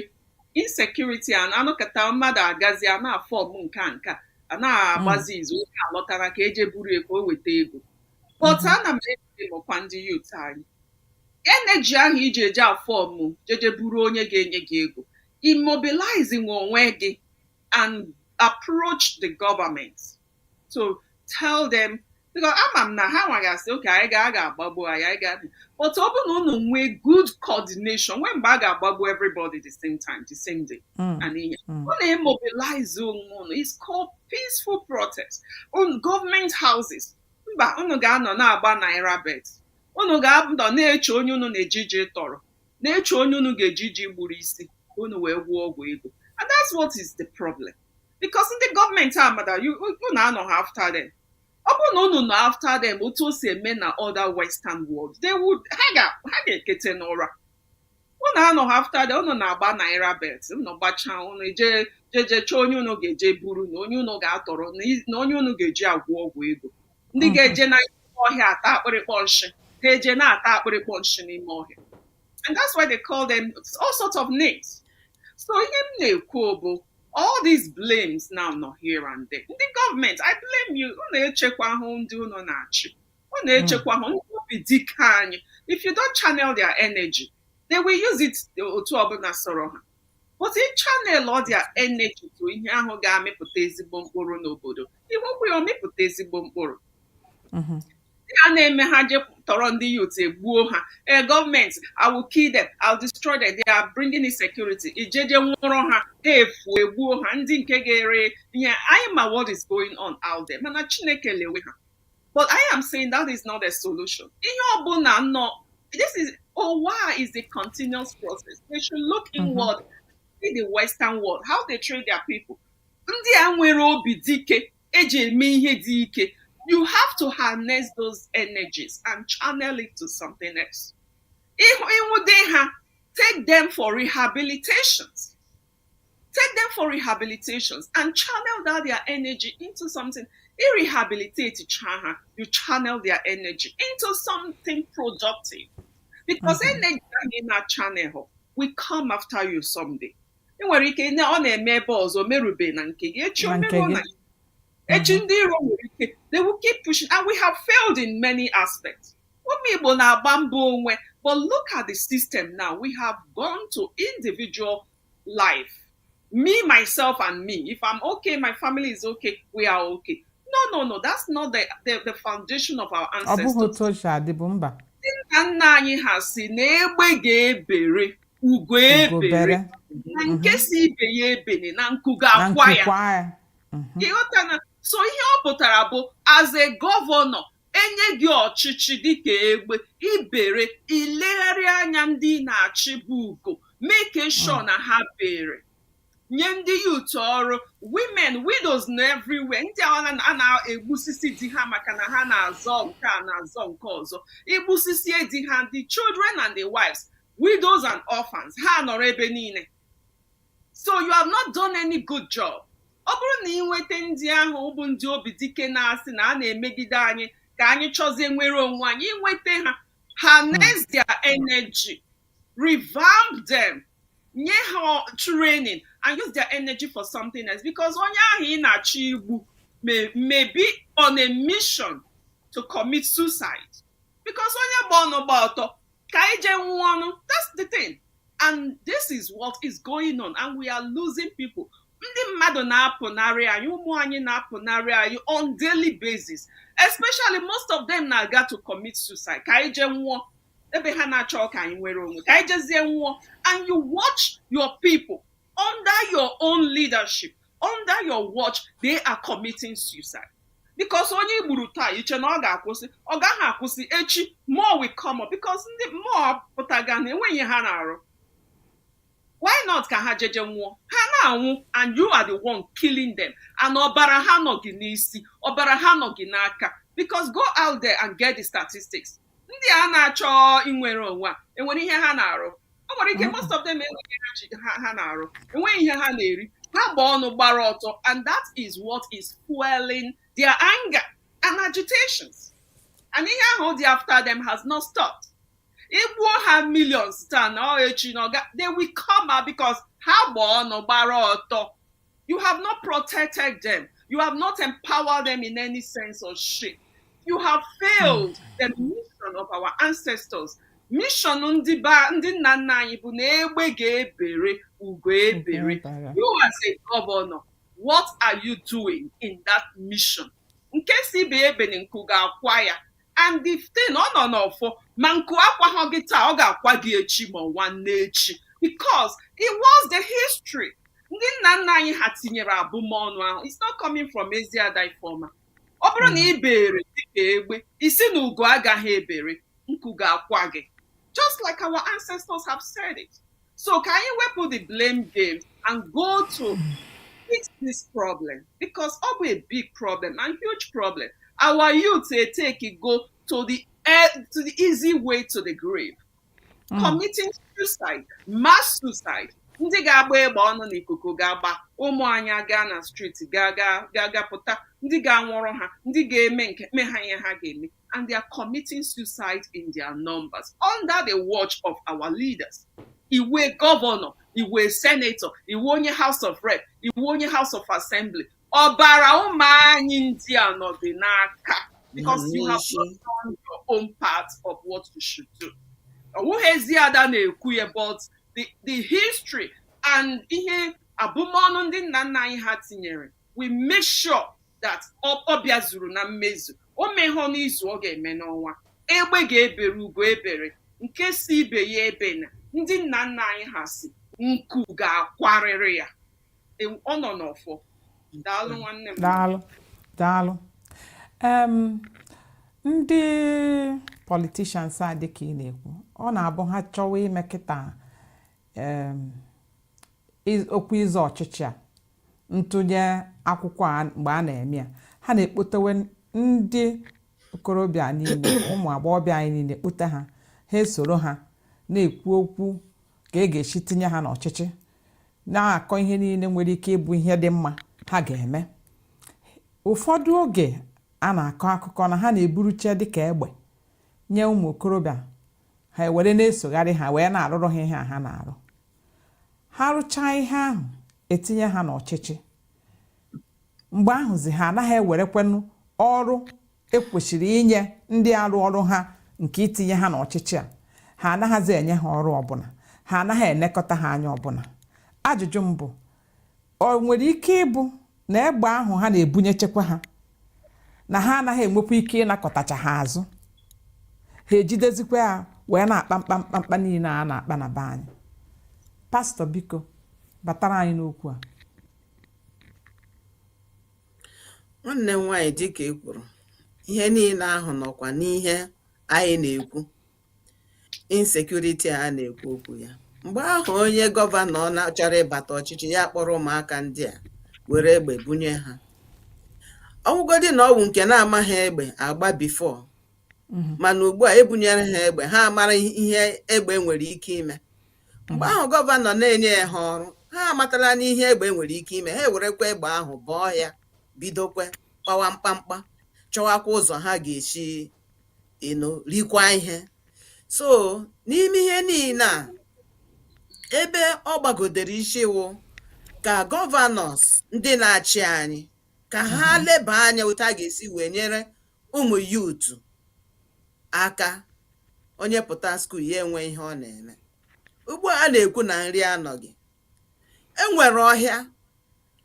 insecurity a na-anọkọta mmadụ agazi a na-afọm nke a nke a a na-agbazi hmm. izu onye a lọtara ka e je buru ya ka o weta ego but hmm. ana m eblemụkwa ndị yut anyị energy ahụ i ji eje afọmụ jeje buru onye ga-enye gị ego i mobilize onwe gị and approach the government to tell them because ama m na ha nwa ga-asị okay anyị gaa a ga-agbagbu anyị anyị gaa but ọ bụrụ na unu nwee good coordination nwee mgbe a ga-agbagbu everybody the same time the same day Mm. and Mm. unu emobilize onwe unu it's called peaceful protest on government houses mba unu ga-anọ na-agba naira bet unu ga-anọ na-eche onye unu na-eje je tọrọ na-eche onye unu ga-eje je gburu isi ka unu wee gwọọ ọgwụ ego and that's what is the problem because ndị gọọmenti ama na unu anọha after them ọ bụrụ na unu nọ after them otu o si eme na other western world they would ha ga- ha ga-ekete n'ụra unu anọha after them unu na-agba naira bet unu gbachaa unu je jeje chọọ onye unu ga-eje buru na onye unu ga-atọrọ na i- na onye unu ga-eji agwọ ọgwụ ego ndị mm-hmm. ga-eje n'ọhịa ata akpịrịkpọ nshị ha eje na-ata akpịrịkpọ nshị n'ime ọhịa and that's why they call them all sorts of names so ihe m na-ekwu bụ all these blames now nọ here and there ndị gọọmenti i blame you unu echekwahụ ndị unu na-achị unu echekwahụ ndị obi dị ike anyị if you don't channel their energy they will use it otu ọbụla sọrọ ha but ị channelụọ their energy to ihe ahụ ga-amịpụta ezigbo mkpụrụ n'obodo i wekwa ya ọ mịpụta ezigbo mkpụrụ mm-hmm. a na-eme ha je tọrọ ndị yut egbuo ha ee gọọmenti I will kill them I will destroy them they are bringing insecurity e jeje nwụrụ ha ha efu egbuo ha ndị nke ga-ere ihe anyị ma what is going on out there mana chineke lewe ha But I am saying that is not a solution. Ihe ọbụla nọ in this ụwa is a continuous process. They should look mm-hmm. inward, mm -hmm. see the Western world, how they treat their people. Ndị a nwere obi dị ike e ji eme ihe dị ike. You have to harness those energies and channel it to something else. If ị nwụde ha, take them for rehabilitations. take them for rehabilitations and channel that their energy into something i rehabilitate cha ha you channel their energy into something productive because mm-hmm. energy ahụ ị na channel will come after you someday ị nwere ike ọ na-eme ebe ọzọ merube na nke gị echi o mere na echi ndị iro nwere ike they will keep pushing and we have failed in many aspects Ụmụ Igbo na-agba mbọ onwe but look at the system now we have gone to individual life me myself and me if I'm okay my family is okay we are okay no no no that's not the the, the foundation of our ancestors. ọ bụghị otu o si adịbu mba ndị nna nna anyị ha sị na egbe ga-ebere ugo ebere na nke mhm. sị ibe ya ebene na nku ga-akwa ya ị ghọtana so ihe ọ pụtara bụ as a gọvanọ e nye gị ọchịchị dịka egbe i bere ị legharịa anya ndị ị na-achị bụ ugo making sure na ha bere nye ndị yut ọrụ women widows na everywhere ndị a na- a na-egbusisi di ha maka na ha na-azọ nke a na-azọ nke ọzọ i gbusisie di ha the children and the wives widows and orphans ha anọrọ ebe niile so you have not done any good job ọ bụrụ na ị nweta ndị ahụ bụ ndị obi dike na-asị na a na-emegide anyị ka anyị chọzie inwere onwe anyị i nweta ha harness hmm. their energy revamp them nye ha training and use their energy for something else because onye ahụ ị na-achọ igbu may be on a mission to commit suicide because onye gba ọnụ gba ọtọ ka anyị jee nwụọnụ that's the thing and this is what is going on and we are losing people ndị mmadụ na-apụnarị anyị ụmụ anyị na-apụnarị anyị on daily basis especially most of them na-aga to commit suicide ka anyị jee nwụọ ebe ha na-achọ ka anyị nwere onwe ka anyị jezie nwụọ and you watch your people under your own leadership under your watch they are committing suicide because onye i gburu taa i che na ọ ga-akwụsị ọ gaghị akwụsị echi more will come up because ndị a mụpụtaga na-enweghị ihe ha na-arụ why not ka ha jeje nwụọ ha na-anwụ and you are the one killing them and ọbara ha nọ gị n'isi ọbara ha nọ gị n'aka because go out there and get the statistics ndị a na-achọ inwere onwe a e nwere ihe ha na-arụ o nwere ike most of them enweghị ihe ha ji- ha ha na-arụ enweghị ihe ha na-eri ha gba ọnụ gbara ọtọ and that is what is fueling their anger and agitations and ihe ahụ dị after them has not stopped i gbuo ha millions taa na ọ echi na ọga they will come out because ha gba ọnụ gbara ọtọ You have not protected them. You have not empowered them in any sense or shape. You have failed hmm. the mission of our ancestors. Mission ndị ba ndị nna nna anyị bụ na egbe ga-ebere ugo ebere. You as a governor, what are you doing in that mission? Nke sị ibe ebene nku ga-akwa ya. and the thing ọ nọ n'ọfọ ma nku akwaghọ gị taa ọ ga-akwa gị echi ma nwanne echi because it was the history ndị nna nna anyị ha tinyere abụmọnụ ahụ it's not coming from ezi ada ifeọma ọ bụrụ na ị bere dịka egbe ị sị na ugo agaghị ebere nku ga-akwa gị just like our ancestors have said it so ka anyị wepụ the blame game and go to fix this problem because ọ bụ a big problem and huge problem our youth dey take e go to the eh, to the easy way to the grave committing suicide mass suicide ndị ga-agba egbe ọnụ n'ikuku ga-agba ụmụ anyị gaa na streeti gaa gaa gaa gaa pụta ndị ga-anwụrụ ha ndị ga-eme nke me ha ihe ha ga-eme and they are committing suicide in their numbers under the watch of our leaders. Ị wụ governor, ị wụ senator, ị wụ onye House of Rep, ị wụ onye House of Assembly. Ọbara ụmụ anyị ndị a nọ gị n'aka because you have not done your own part of what you should do. Ọ wụghị ezi ada na-ekwu ya but the, the history and ihe abụmọnụ ndị nna nna anyị ha tinyere will make sure that ọ bịazuru na mmezu o mehọ n'izu ọ ga-eme n'ọnwa egbe ga-ebere ugo ebere nke sị ibe ya ebena ndị nna nna anyị ha sị nku ga-akwarịrị ya e, ọ nọ n'ọfọ daalụ nwanne m daalụ daalụ ndị politishans a dị ka ị na-ekwu ọ na-abụ ha chọwa ime kịta okwu ịzọ ọchịchị a ntụnye akwụkwọ a mgbe a na-eme ya ha na-ekpotewe ndị okorobịa niile ụmụ agbọghọbịa anyị niile kpụta ha ha esoro ha na-ekwu okwu ka e ga-esi tinye ha n'ọchịchị na-akọ ihe niile nwere ike ịbụ ihe dị mma ha ga-eme ụfọdụ oge a na-akọ akụkọ na ha na-eburuche dịka egbe nye ụmụ okorobịa ha ewere na-esogharị ha wee na-arụrụ ha ihe a ha na-arụ ha rụchaa ihe ahụ e tinye ha n'ọchịchị mgbe ahụzi ha anaghị ewerekwanụ ọrụ e kwesịrị inye ndị arụ ọrụ ha nke itinye ha n'ọchịchị a ha anaghịzi enye ha ọrụ ọbụla ha anaghị elekọta ha anya ọbụla ajụjụ m bụ ọ nwere ike ịbụ na egbe ahụ ha na-ebunyechekwa ha na ha anaghị enwekwa ike ịnakọtacha ha azụ ha ejidezikwa ya wee na-akpa mkpamkpa niile a na-akpa na be anyị pastọ biko batara anyị n'okwu a nwanne m nwaanyị dịka e kwuru ihe niile ahụ nọkwa n'ihe anyị na-ekwu insecurity a na-ekwu okwu ya mgbe ahụ onye gọvanọ na chọrọ ịbata ọchịchị ya kpọrọ ụmụaka ndị a were egbe bunye ha ọ wụgodi na ọ wụ nke na-amaghị egbe agba before Mhm. mana ugbu a e bunyere ha egbe ha mara ihe egbe nwere ike ime mgbe ahụ gọvanọ na-enyeghị ha ọrụ ha amatala n'ihe egbe nwere ike ime ha ewerekwa egbe ahụ baa ọhịa bidokwe kpawa mkpamkpa chọwakwa ụzọ ha ga-esi you know rikwa ihe so n'ime ihe niile a ebe ọ gbagodere isi wụ ka gọvanọs ndị na-achị anyị ka ha leba anya otu a ga-esi wee nyere ụmụ youth aka onye pụta skuul ya enwe ihe ọ na-eme ugbu a a na-ekwu na nri anọghị e nwere ọhịa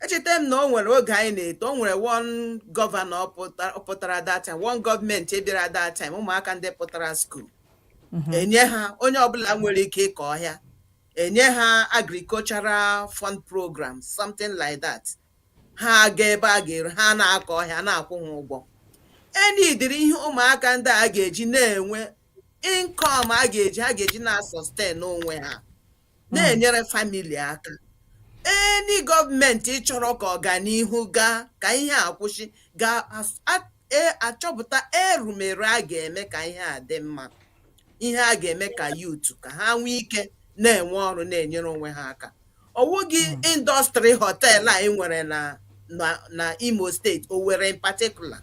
echeta m na o nwere oge anyị na-eto o nwere one gọvanọ pụta- pụtara that time one gọọmenti bịara that time ụmụaka ndị pụtara skuul enye ha onye ọbụla nwere ike ịkọ ọhịa enye ha agricultural fund program something like that ha aga ebe a ga-eru ha na-akọ ọhịa na-akwụ ha ụgwọ any ụdịrị ihe ụmụaka ndị a ga-eji na-enwe income a ga-eji ha ga-eji na-sustain onwe ha na-enyere family aka any gọọmenti chọrọ ka ọganihu gaa ka ihe a kwụsị ga-achọpụta erumere a ga-eme ka ihe a dị mma ihe a ga-eme ka youth ka ha nwee ike na-enwe ọrụ na-enyere onwe ha aka ọ wụghị industry họteelụ a e nwere na na na imo steeti owere in particular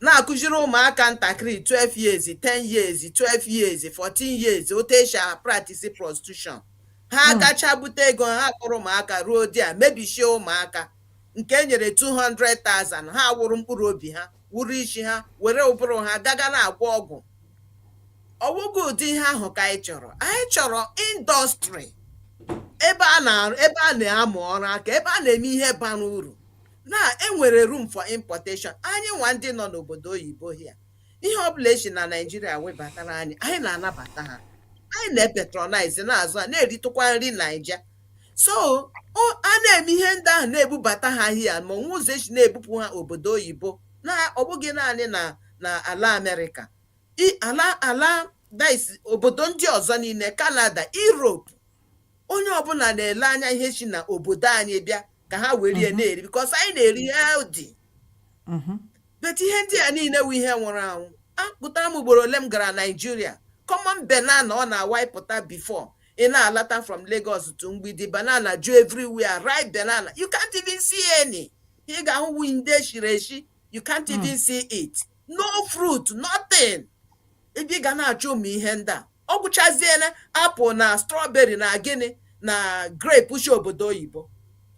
na-akụziri ụmụaka ntakịrị 12 years 10 years 12 years 14 years otu e si a-practice prostitution ha hmm. gacha bute ego ha kpọrọ ụmụaka ruo di a mebishie ụmụaka nke e nyere 200,000 ha wụrụ mkpụrụ obi ha wụrụ isi ha were ụbụrụ ha gaga na-agwọ ọgwụ ọ wụghị ụdị ihe ahụ ka anyị chọrọ anyị chọrọ industry ebe a na-amụ ọrụ aka ebe a na-eme ihe bara uru na e nwere room for importation anyịnwa ndị nọ n'obodo oyibo here ihe ọbụla esi na naijiria webatara anyị anyị na-anabata ha anyị na-patronize na-azụ ha na-eritụkwa nri naija so a na-eme ihe ndị ahụ na-ebubata ha hia ma o nwee ụzọ e si na-ebupụ ha obodo oyibo na ọ bụghị naanị na na ala amerịka i ala ala this obodo ndị ọzọ niile kanada europe onye ọbụla na-ele anya ihe si na obodo anyị bịa ka ha were ya na-eri bikos anyị na-eri healthy Mhm. bet ihe ndị a niile wụ ihe nwụrụ anwụ agụtara m ugboro ole m gara naijiria common banana ọ na-awụ ị pụta before ị na-alata from lagos to mgbidi banana ju everywhere ripe banana you can't even see any ihe ị ga-ahụ wụ ndị shiri eshi you can't even see it no fruit nothing ebe ị ga na-achọ ụmụ ihe ndị a ọ gwụchaziela apụl na strọberị na gịnị na grape si obodo oyibo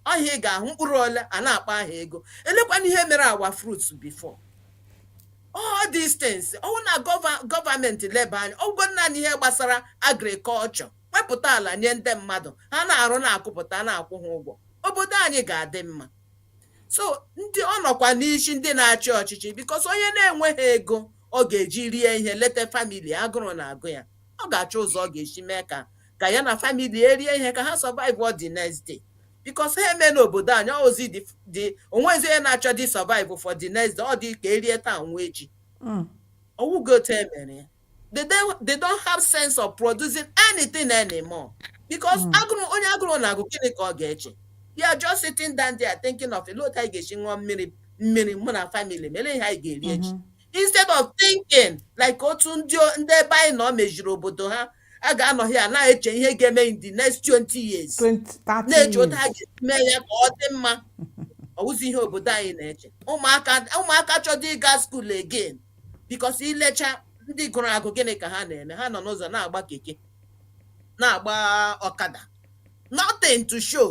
wụ ihe ị ga-ahụ mkpụrụ ole a na-akpọ aha ego elekwana ihe mere our fruits before all these things ọwụ na gọva- gọọmenti leba anya ọwụgo naanị ihe gbasara agrikọlchọ wepụta ala nye ndị mmadụ ha na-arụ na-akụpụta na-akwụ ha ụgwọ obodo anyị ga-adị mma so ndị ọ nọkwa n'isi ndị na-achị ọchịchị bikos onye na-enweghị ego ọ ga-eji rie ihe leta famili agụrụ na-agụ ya ọ ga-achọ ụzọ ọ ga-esi mee ka ka ya na famili erie ihe ka ha survive for the next day bikos ha emena obodo anyị ozi dị onwezi onye na-achọdị survive for the next day ọ dị ka erie taa nwụọ echi ọwụgo otu emere ya they don't, they don't have sense of producing anything anymore because hmm. agụrụ onye agụrụ na-agụ gịnị ka ọ ga-eche they are just sitting down there thinking of olee otu anyị ga-esi ṅụọ mmiri mmiri mụ na family m ihe anyị ga-eri echi hmm. instead of thinking like otu ndị ndị ebe anyị nọ meziri obodo ha a ga-anọ here na-eche ihe ga-eme in the next 20 years na-eche otu ha ga-eme ya ka ọ dị mma ọwụzi ihe obodo anyị na-eche ụmụaka ụmụaka chọdị ịga skuul again bikos ilecha ndị gụrụ agụ gịnị ka ha na-eme ha nọ n'ụzọ na-agba keke na-agba ọkada nothing to show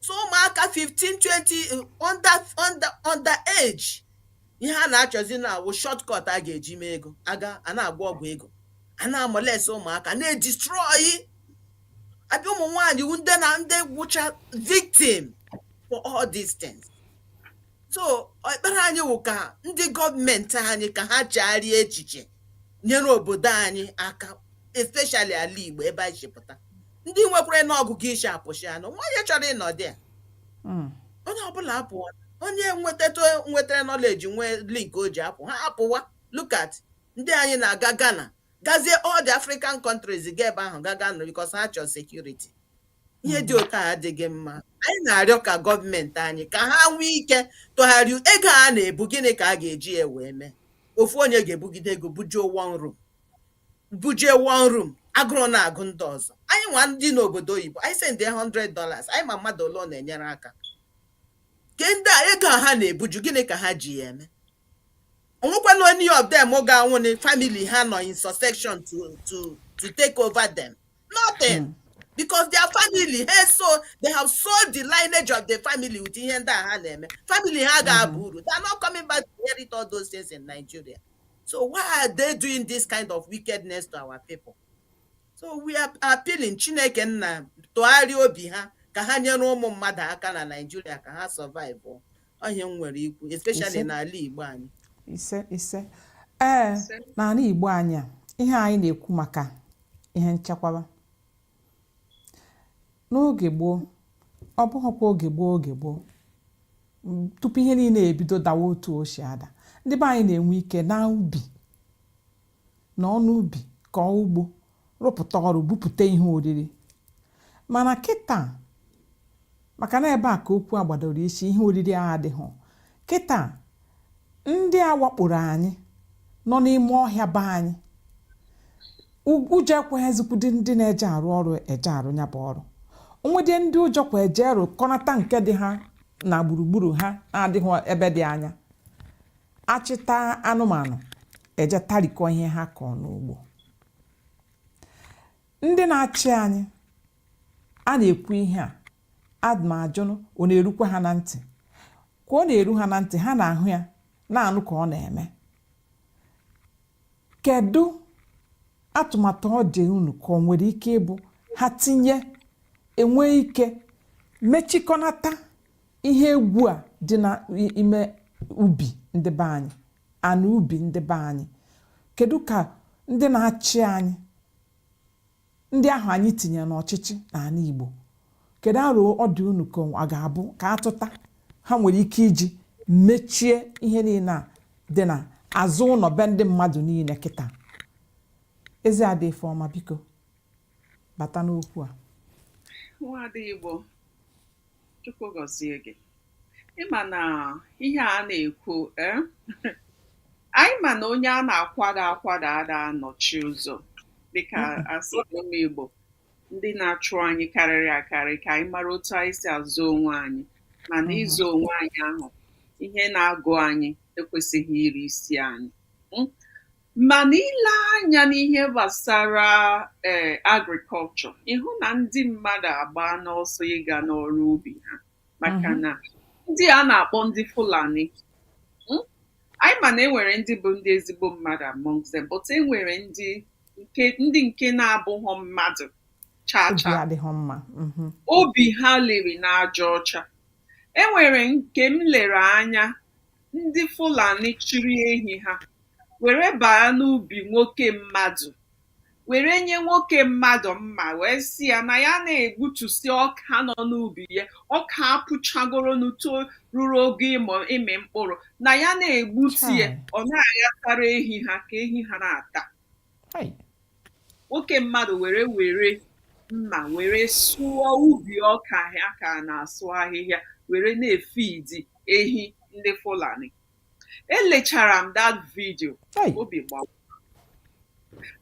so ụmụaka 15 20 under under under age ihe a na-achọzi na-awụ shortcut a ga-eji mee ego a gaa na-agba ọgwụ ego a na-amolest ụmụaka na-edistrọyi abịa ụmụ nwaanyị ndị na ndị wụcha victim for all these things so ekpere anyị wụ ka ndị gọọmenti anyị ka ha chegharịa echiche nyere obodo anyị aka especially ala Igbo ebe anyị si pụta ndị nwekwarana ọgụgụ isi apụsịana onwe onye chọrọ ịnọdị ya Mm. onye ọbụla apụwa onye nwetata nwetara nọleji nwee link o ji apụ ha apụwa look at ndị anyị na-aga Ghana gazie all the African countries ga ebe ahụ ga Ghana because ha chọrọ security ihe dị otu a adịghị mma anyị na-arịọ ka gọọmenti anyị ka ha nwee ike tụgharịa ego ha na-ebu gịnị ka a ga-eji ya wee mee ofu onye ga-ebugide ego bujuo one room bujuo one room agụrụ na-agụ ndị ọzọ anyị nwa ndị n'obodo oyibo anyị sendị 100 dollars anyị ma mmadụ ole ọ na-enyere aka ke ndị a ego a ha na-ebuju gịnị ka ha ji ya eme onwekwana any of them ga-anwụ na family ha nọ in succession to to to take over them nothing hmm. because their family ha so they have sold the lineage of the family with ihe ndị a ha na-eme family ha ga-aba hmm. uru they are not coming back to inherit all those things in Nigeria so why are they doing this kind of wickedness to our people so we are appealing Chineke nna tụgharịa obi ha ka ha nyere ụmụ mmadụ aka na Nigeria ka ha survive ọ ihe a m nwere ikwu especially Ise. n'ala Igbo anyị ise ise ee n'ala igbo anyị a ihe anyị na-ekwu maka ihe nchekwaba n'oge gboo ọ bụghịkwa oge gboo oge gboo m, tupu ihe niile ebido dawa otu o si ada ndị be anyị na-enwe ike na ubi na ọnụ ubi kọọ ugbo rụpụta ọrụ bupụta ihe oriri mana kịta maka na ebe a ka okwu a gbadoro isi ihe oriri a adịghị kịta ndị a wakporo anyị nọ n'ime ọhịa be anyị ụjọ ekweghịzikwudị ndị na-eje arụ ọrụ eje arụ ya bụ ọrụ o nwedị ndị ụjọ kwe eje rụkọnata nke dị ha na gburugburu ha na-adịghị ebe dị anya achịta anụmanụ eje tarikọ ihe ha kọọ n'ugbo ndị na-achị anyị a na-ekwu ihe a ana m ajụnụ ọ na-erukwa ha na ntị ka ọ na-eru ha na ntị ha na-ahụ ya na-anụ ka ọ na-eme kedu atụmatụ ọ dị unu ka ọ nwere ike ịbụ ha tinye enwe ike mechikọnata ihe egwu a dị n'ime ubi ndị be anyị ana ubi ndị be anyị kedu ka ndị na-achị anyị ndị ahụ anyị tinyere n'ọchịchị n'ala Igbo kedu aro ọ dị unu ka ọ ga-abụ ka a tụta ha nwere ike iji mechie ihe niile a dị na azụ ụlọ be ndị mmadụ niile kịta ezi ada Ifeoma biko bata n'okwu a Chukwu gọzie gị. Ị ma na ihe a na-ekwu eh? anyị ma na onye a na-akwada akwada ada anọchi ụzọ dịka a sị ụmụ Igbo ndị na-achụ anyị karịrị akarị ka anyị mara otu anyị si azụ onwe anyị mana ịzụ onwe anyị ahụ ihe na-agụ anyị ekwesịghị iri isi anyị. Hmm? Mana i lee anya n'ihe gbasara ee eh, agriculture ị hụ na ndị mmadụ agbaana ọsọ ịga n'ọrụ ubi ha maka mhm. na ndị a na-akpọ ndị Fulani hmm? anyị ma na enwere ndị bụ ndị ezigbo mmadụ among them but enwere ndị nke ndị nke na-abụghọ mmadụ chaa chaa mhm. obi ha liri n'aja ọcha enwere nke m lere anya ndị Fulani chịrị ehi ha were baa n'ubi nwoke mmadụ were nye nwoke mmadụ mma wee sị ya na ya na-egbutusi ọka nọ n'ubi ya ọka apụchagoro n'uto ruru ogo ịmị mkpụrụ na ya na-egbutu ya ọ na-aghatara ehi ha ka ehi ha na-ata nwoke mmadụ were were mma were sụọ ubi ọka ya ka na-asụ ahịhịa were na-efidi ehi ndị Fulani elechara m that video obi gbawa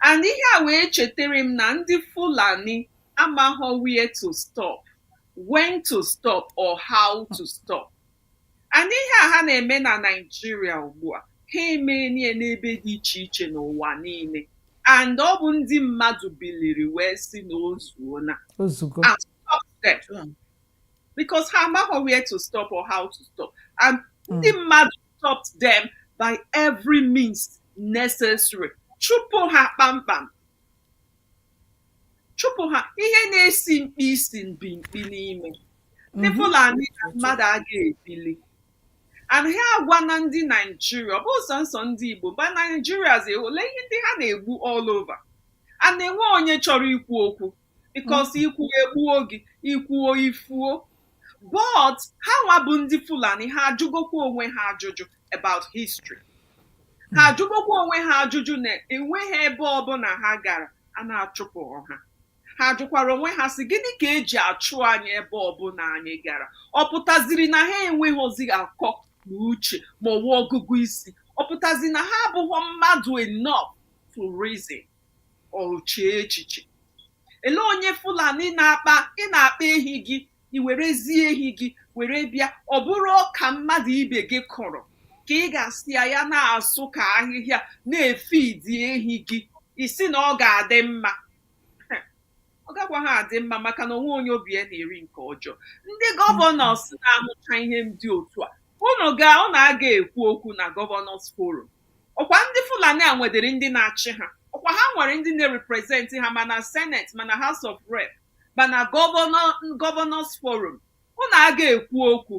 and ihe a wee chetara m na ndị Fulani amaghọ where to stop when to stop or how to stop And ihe a ha na-eme na Naịjirịa ugbu a ha emeela ya n'ebe dị iche iche n'ụwa niile and ọ bụ ndị mmadụ biliri wee sị na o zuona O zugo. and stop them Sure. because ha amaghị where to stop or how to stop and ndị mmadụ stopped them by every means necessary chụpụ ha kpamkpam chụpụ ha ihe na-esi mkpi isi bi mkpi n'ime ndị mhm. Fulani na mmadụ a ga-ebili anaghị agwa na ndị Naijiria ọ bụghị sọọsọ ndị Igbo mba Naijirians ahụla ihe ndị ha na-egbu all over and enweghị onye chọrọ ikwu okwu because mhm. i kwuo egbuo gị i kwuo i fuo but ha nwa bụ ndị fulani ha ajụgokwa onwe ha ajụjụ about history ha hmm. ajụgokwa onwe ha ajụjụ na enweghị ebe ọbụla ha gara a na-achụpụ ha ha jụkwara onwe ha sị gịnị ka e ji achụ anyị ebe ọbụla anyị gara ọ pụtaziri na ha enweghịzi akọ na uche ma ọwa ọgụgụ isi ọ pụtaziri na ha abụghị mmadụ enough to reason or chee echiche ele onye fulani na-akpa ị na-akpa ehi gị i werezie ehi gị were bịa ọ bụrụ ọka mmadụ ibe gị kụrụ ka ị ga-asị ya ya na-asụ ka ahịhịa na-efidi ehi gị ị sị na ọ ga-adị mma ọ gakwaghị adị mma maka na o nweghị onye obi ya na-eri nke ọjọọ ndị gọvanọs na-ahụcha ihe ndị otu a unu ga unu aga ekwu okwu na gọvanọs forum ọkwa ndị fulani a nwedịrị ndị na-achị ha ọkwa ha nwere ndị na-representị ha ma na senate ma na house of rep ma na gọvanọ gọvanọs forum unu aga ekwu okwu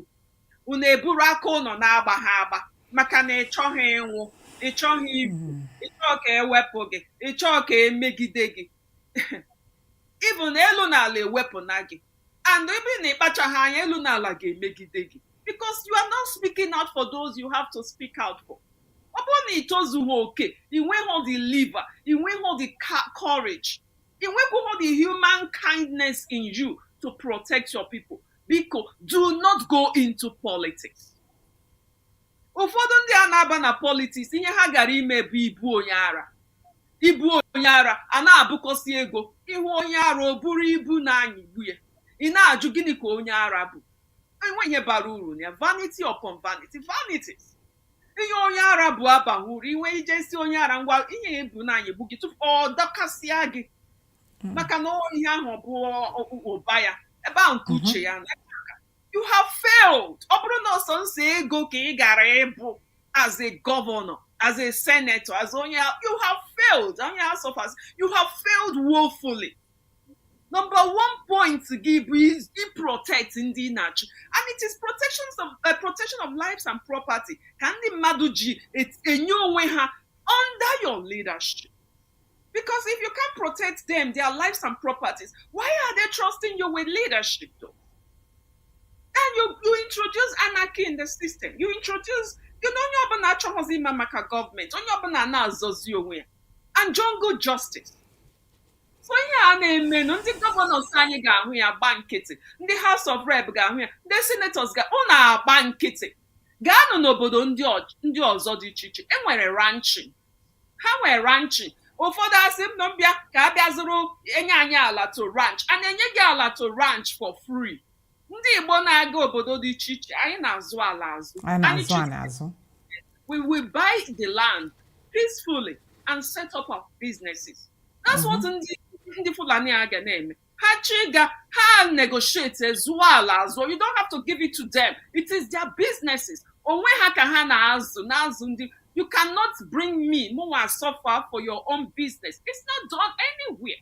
unu eburu aka ụnọ na-agba ha agba maka na ịchọghị ịnwụ ịchọghị ifu ịchọghị ka ewepụ gị ịchọghị ka emegide gị even elu na ala ewepụna gị and ebe na ịkpachaghị anya elu na ala ga-emegide gị because you are not speaking out for those you have to speak out for ọ bụrụ na ị tozughị oke ị nweghị the liver ị nweghị the ca- courage ị nweghị the human kindness in you to protect your people biko do not go into politics ụfọdụ ndị a na-aba na politiks ihe ha gara ime bụ ibu onye ara ibu onye ara a na-ebukọsị ego ị hụ onye ara o buru ibu na-anyịgbu ya ị na-ajụ gịnị ka onye ara bu enwe ihe bara uru na ya vanity upon vanity vanities ihe onye ara bu abaghị uru ị nwaa ije sị onye ara ngwa ihe i bu na-anyịgbu gị tụpụ ọ dọkasịa gị maka na ihe ahụ bụ ụba ya ebe ahụ ka uche ya na you have failed ọ bụrụ na ọ sọnsọ ego ka ị gara ibu as a governor as a senator as onye you have failed onye house of us you have failed woefully number one point gị bụ ị protect ndị ị na-achị and it is protection of, uh, protection of lives and property ka ndị mmadụ ji enye onwe ha under your leadership Because if you can't protect them, their lives and properties, why are they trusting you with leadership though? And you, you introduce anarchy in the system. You introduce, you know, onye ọbụla achọghịzi ịma maka gọọmenti, onye ọbụla na-azọzi onwe ya. And jungle justice. so ihe a na-emenụ ndị gọvanọs anyị ga-ahụ ya gba nkịtị ndị House of Rep ga-ahụ ya ndị senatọs ga ụnụ agba nkịtị gaanụ n'obodo ndị ọzọ dị iche iche e nwere ranching ha nwee ranch ụfọdụ asị m na mbịa ka a bịa zụrụ enye anyị ala to ranch a na-enye gị ala to ranch for free ndị igbo na-aga obodo dị iche iche anyị na-azụ ala azụ anyị na-azụ chụrụ anyị azụ we will buy the land peacefully and set up our businesses. That's what ndị ndị Fulani a ga na-eme. ha chiga ha negotiate zụọ ala azụọ you don't have to give it to them it is their businesses onwe ha ka ha na-azụ na-azụ ndị you cannot bring me mụnwa suffer for your own business it's not done anywhere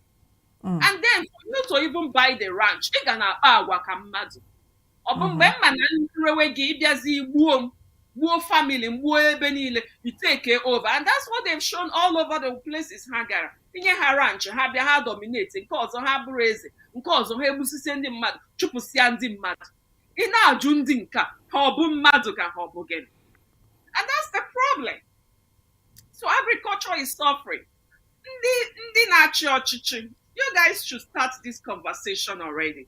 Mm. and then for you to even buy the ranch ị ga na-akpa agwa ka mmadụ ọ bụ mgbe m ma na m rewe gị ị bịazi gbuo m gbuo family m gbuo ebe niile you take over and that's what they've shown all over the places ha gara i nye ha ranch ha bịa ha dominate nke ọzọ ha bụrụ eze nke ọzọ ha egbusisie ndị mmadụ chụpụsịa ndị mmadụ ị na-ajụ ndị nke a, ha ọ bụ mmadụ ka ha ọ bụ gịnị and that's the problem so agriculture is suffering ndị ndị na-achị ọchịchị you guys should start this conversation already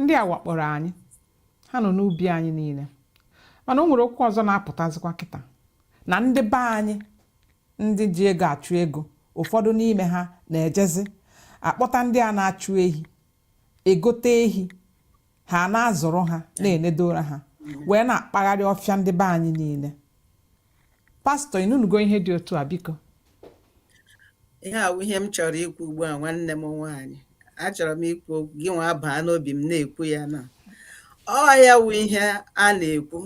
ndị a wakpọrọ anyị ha nọ n'ubi anyị niile mana o nwere okwu ọzọ na-apụtazikwa kịta na ndị be anyị ndị ji ego achụ ego ụfọdụ n'ime ha na-ejezi akpọta ndị a na-achụ ehi egote ehi ha na-azụrụ ha na-enedoro ha wee na-akpagharị ọfịa ndị be anyị niile pastọ ị nụnugo ihe dị otu a biko ihe a wụ ihe m chọrọ ikwu ugbu a nwanne m nwaanyị achọrọ m ikwu okwu gị nwa baa n'obi m na-ekwu ya na ọ ya wụ ihe a na-ekwu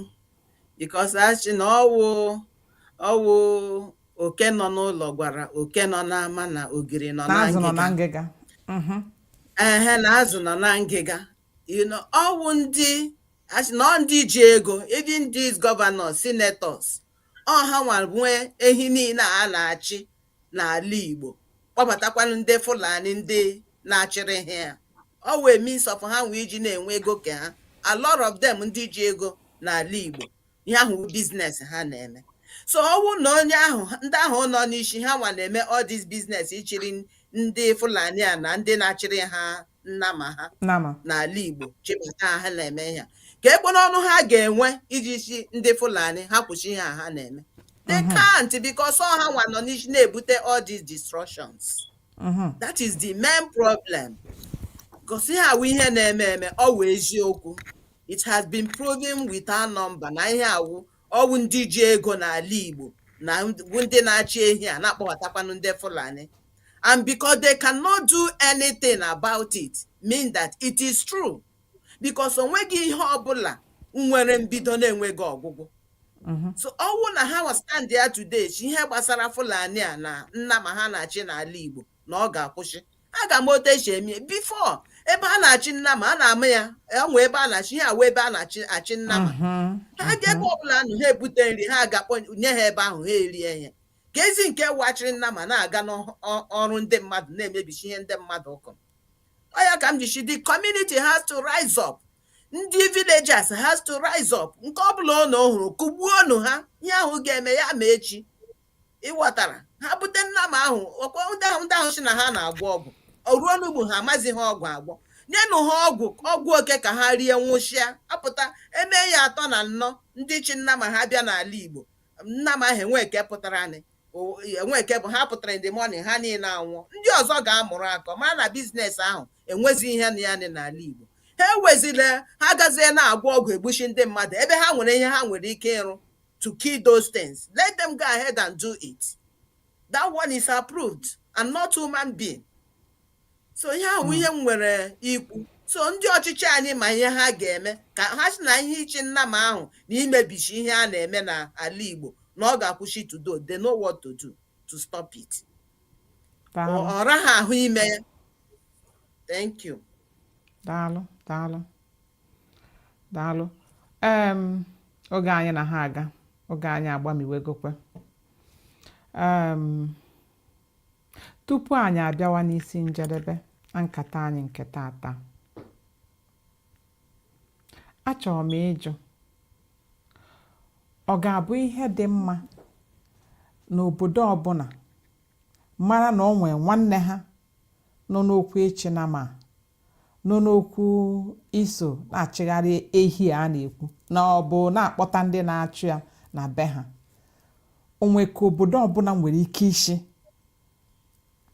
because a sị na ọ wụ ọ wụ oke nọ n'ụlọ gwara oke nọ n'ama na ogiri nọ na na azụ nọ na ngịga ngịga Mhm. ehe na azụ nọ na ngịga you know ọ wụ ndị a sị na ọ ndị ji ego even these governors senators ọ ha nwa nwe ehi niile a na-achị n'ala Igbo kpọbatakwanụ ndị Fulani ndị na-achịrị ha ya ọ wụ a means of ha nwe iji na-enwe ego nke ha a lot of them ndị ji ego n'ala Igbo ihe ahụ bụ business ha na-eme so ọ wụ na onye ahụ ndị ahụ nọ n'isi ha nwa na-eme all this business ịchịrị ndị Fulani a na ndị na-achịrị ha nnama ha Nama. n'ala Igbo chịbata ha na-eme ihe a. keekwanụ ọnụ ha ga-enwe iji sị ndị Fulani ha kwụsị ihe a ha na-eme they can't because ọ ha nwa nọ n'isi na-ebute all these destructions Mhm. that is the main problem cos ihe a wụ ihe na-eme eme ọ wụ eziokwu It has been proven without number na ihe a wụ ọ wụ ndị ji ego n'ala Igbo na wụ ndị na-achị ehi a na-akpọbatakwanụ ndị Fulani and because they cannot do anything about it mean that it is true because o nweghị ihe ọbụla nwere mbido na-enweghị ọgwụgwụ mm-hmm. so ọ wụ na ha wee stand ya today sị ihe gbasara Fulani a na nnama ha na-achị n'ala Igbo na ọ ga-akwụsị a ga-eme otu e si eme before ebe a na-achị nnama a na-ama ya e nwe ebe a na-achị ihe a wụ ebe a na-achị achị nnama Mhm, ha ga ebe ọbụla nọ ha ebute nri ha gaa kponye ha ebe ahụ ha erie ihe keezi nke wụ a chịrị nnama na-aga n'ọrụ ndị mmadụ na-emebichi ihe ndị mmadụ kọ ọ ya ka m ji sị the community has to rise up ndị villagers has to rise up nke ọbụla ụnụ hụrụ kụgbuonụ ha ihe ahụ ga-eme ya ma echi ị ghọtara ha bute nnama ahụ ọkwa ndị ahụ ndị ahụ sị na ha na-agwọ ọgwụ o ruo ugbu a amazi ha ọgwụ agwọ nyenụ ha ọgwụ ọgwụ oke ka ha rie nwụchịa apụta e mee ya atọ na anọ ndị chị nnama ha bịa n'ala Igbo nnama ahụ enwe eke pụtara anyị o- enwe eke bụ ha pụtara in the morning ha niile anwụọ ndị ọzọ ga-amụrụ akọ mara na business ahụ enwezi ihe na ya dị n'ala igbo ha ewezila ha gazie na-agwọ ọgwụ egbuchi ndị mmadụ ebe ha nwere ihe ha nwere ike ịrụ to kill those things. Let them go ahead and do it. That one is approved and not human being. So ihe ahụ hmm. ihe m nwere ikwu. So ndị ọchịchị anyị ma ihe ha ga-eme ka ha sị na ihe ịchị nnama ahụ na imebichi ihe a na-eme n'ala Igbo na ọ ga-akwụsị to do. They know what to do to stop it. Ọ raghị ahụ ime ya. Thank you. Daalụ, daalụ. daalụ em oge anyị na ha aga oge anyị agbamiwegokwe em tupu anyị abịawa n'isi njedebe nkata anyị nke taata achọrọ m ịjụ ọ ga-abụ ihe dị mma na obodo ọbụla mara na o nwee nwanne ha nọ n'okwu ịchị nama nọ n'okwu iso na-achịgharị ehi a na-ekwu ma ọ bụ na-akpọta ndị na-achụ ya na be ha o nwe ka obodo ọbụla nwere ike ịsị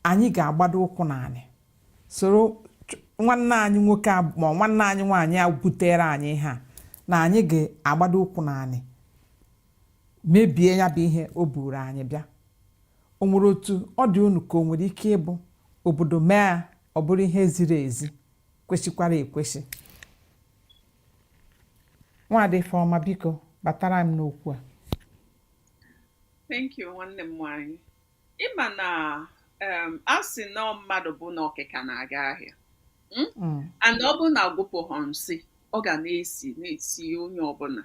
anyị ga-agbado ụkwụ n'anị soro nwanne anyị nwoke ma nwanne anyị nwaanyị a butere anyị ha na anyị ga-agbado ụkwụ n'anị mebie ya bụ ihe o buru anyị bịa o nwere otu ọ dị unu ka o nwere ike ịbụ obodo mee ọ bụrụ ihe ziri ezi kwesịkwara ekwesị nwaada Ifeọma biko batara m n'okwu a thank you nwanne m nwanyị ịma na um, a sị na mmadụ bụ na ọkịka na-aga ahịa hmm? mm. and ọ bụrụ na agwụpụghọ nsị ọ ga na-esi na-esi onye ọbụla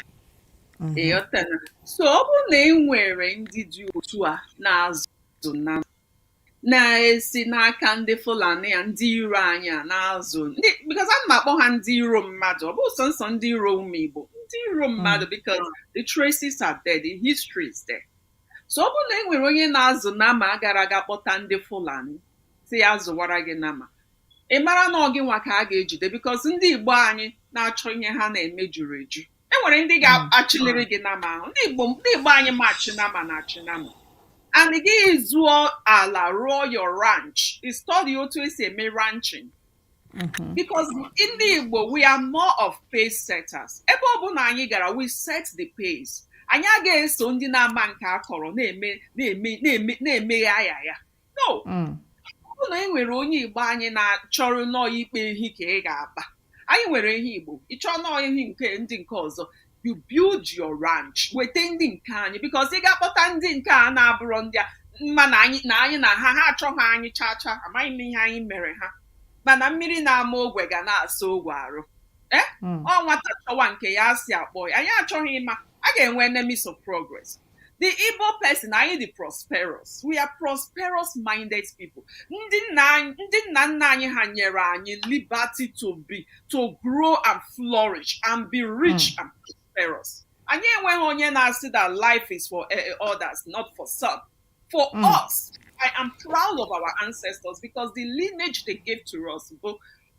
mm-hmm. ịghọtana so ọ bụrụ na e nwere ndị dị otu a na-azụ na na-esi n'aka ndị Fulani a ndị iro anyị a na-azụ ndị because ana m akpọ ha ndị iro mmadụ ọ bụghị sọnsọ ndị iro ụmụ Igbo ndị iro mmadụ because the traces are there the history is there so ọ bụrụ na e nwere onye na-azụ nama a gara ga kpọta ndị Fulani sị ya zụwara gị nama ị mara na ọ gị nwa ka a ga-ejide because ndị Igbo anyị na-achọ ihe ha na-eme juru eju e nwere ndị ga-achịliri gị nama ahụ ndị Igbo ndị Igbo anyị ma achị nama na-achị nama and gị zụọ ala rụọ your ranch study otu e si eme ranching Mm-hmm. because ndị Igbo we are more of pace setters ebe ọ bụla anyị gara we set the pace anyị agaghị eso ndị nama nke akọrọ na-eme na-eme na-eme na-emeghe ahụ ya no mm. ọ bụrụ na e nwere onye igbo anyị na-achọrọ na ọ ịkpa ehi ka ị ga-akpa anyị nwere ehi igbo ị chọọ na ọ ehi nke ndị nke ọzọ you build your ranch weta ndị nke anyị because ị ga-akpọta ndị nke a na-abụrọ ndị a ma na anyị na anyị na ha ha achọghị anyị chaa chaa amaghị m ihe anyị mere ha mana mmiri na-ama ogwe ga na-asa ogwe arụ ee eh? hmm. ọ nwata chọwa nke ya asị akpọ ya anyị achọghị ịma a ga-enwe enemies of progress the Igbo person anyị dị prosperous we are prosperous minded people ndị nna nna anyị ha nyere anyị liberty to be to grow and flourish and be rich mm. and prosperous anyị enweghị onye na-asị that life is for eh, eh, others not for some for mm. us I am proud of our ancestors because the lineage they gave to us bụ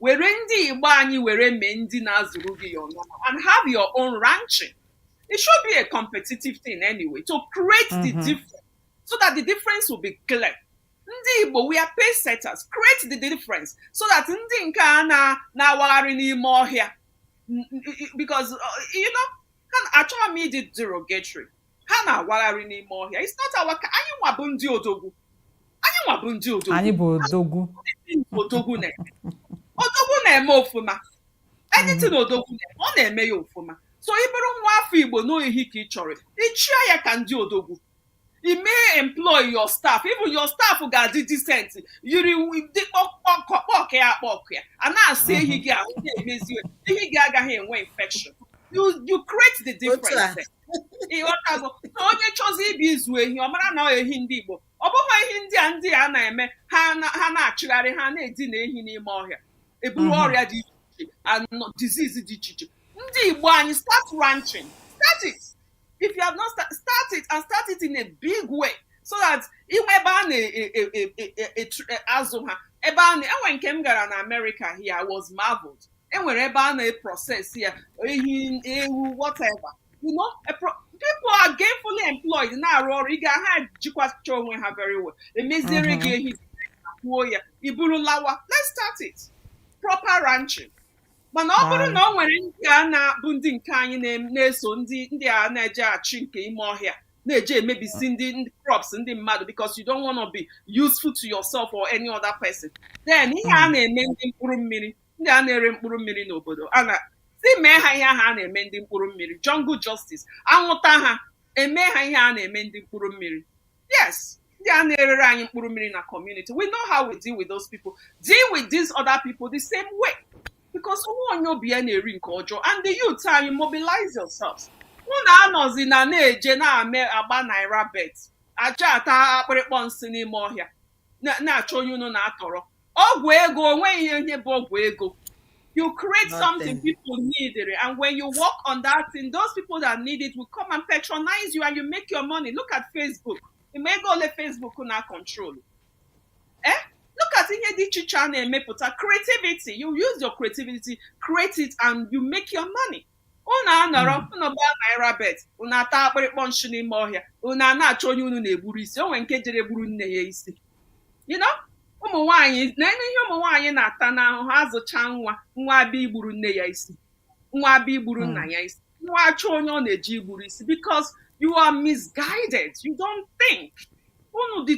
were ndị igbo anyị were mee ndị na-azụrụ gị your nnama and have your own ranching it should be a competitive thing anyway to create the Mhm. difference so that the difference will be clear ndị igbo we are pace setters create the difference so that ndị nke a na- na-awagharị n'ime ọhịa N- n- because uh, you know ha- achọghị m ịdị derogatory ha na-awagharị n'ime ọhịa it's not our ka anyị nwa bụ ndị odogwu anyị nwa bụ ndị odogwu anyị bụ odogwu odogwu na-eme odogwu na-eme ofuma anything odogwu na-eme ọ na-eme ya ofuma so ị bụrụ nwa afọ igbo n'ọ ehi ka ị chọrọ ị chịa ya ka ndị odogwu i mee employ your staff even your staff ga-adị decent yiri dị kpọkọkpọk ya akpọk ya a na-asa ehi gị ahụ na-emezi ehi gị agaghị enwe infection you you create the Otu a. difference ịghọtago na onye chọzi ịbịa ịzụ ehi ọ mara na ehi ndị Igbo ọ bụghị ehi ndị a ndị a na-eme ha na-achịgharị ha na-edina ehi n'ime ọhịa eburu mhm. ọrịa dị iche iche disease dị iche iche ndị Igbo anyị start ranching start it if you have not start, start it and start it in a big way so that inwe ebe a na-azụ e, e, e, ha ebe a na-enwe nke m gara na America here I was marveled enwere ebe a na-eprocess ya ehi ewu whatever you know a pro- people are gainfully employed na-arụ ọrụ ị ga ha jikwacha onwe ha very well emeziere gị ehi kwụọ ya i buru lawa let's start it proper ranching mana ọ bụrụ na ọ nwere ndị a na-abụ ndị nke anyị na- na-eso ndị ndị a na-eje achị nke ime ọhịa na-eje emebisi ndị ndị crops ndị mmadụ because you don't want to be useful to yourself or any other person then ihe a na-eme ndị mkpụrụ mmiri ndị a na-ere mkpụrụ mmiri n'obodo a sị mee ha ihe ahụ a na-eme ndị mkpụrụ mmiri jungle justice anwụta ha eme ha ihe a na-eme ndị mkpụrụ mmiri yes ndị a na-erere anyị mkpụrụ mmiri na community we know how we deal with those people deal with these other people the same way because nwa onye obi ya na-eri nke ọjọọ and the youth anyị mobilize yourselves unu anọzina na-eje na-ame agba naira bet aja ata akpịrịkpọ nsị n'ime ọhịa na- na-achọ onye unu na-atọrọ ọgwụ ego onweghị ihe ihe bụ ọgwụ ego you create something Nothing. people need it, and when you work on that thing those people that need it will come and patronize you and you make your money look at facebook ịma ego ole facebook na-acontrol eh? look at ihe dị iche iche a na-emepụta creativity you use your creativity create it and you make your money unu anọrọ hmm. unu gbaa naira bet unu ata akpịrịkpọ nshị n'ime ọhịa unu a na-achọ onye unu na-egburu isi o nwe nke jere gburu nne ya isi ụmụ nwaanyị na ihe ụmụ nwaanyị na-ata n'ahụhụ azụcha nwa nwa abịa igburu nne ya isi nwa abịa igburu nna hmm. ya isi nwa achọ onye ọ na-eji igburu isi because you are misguided you don't think unu dị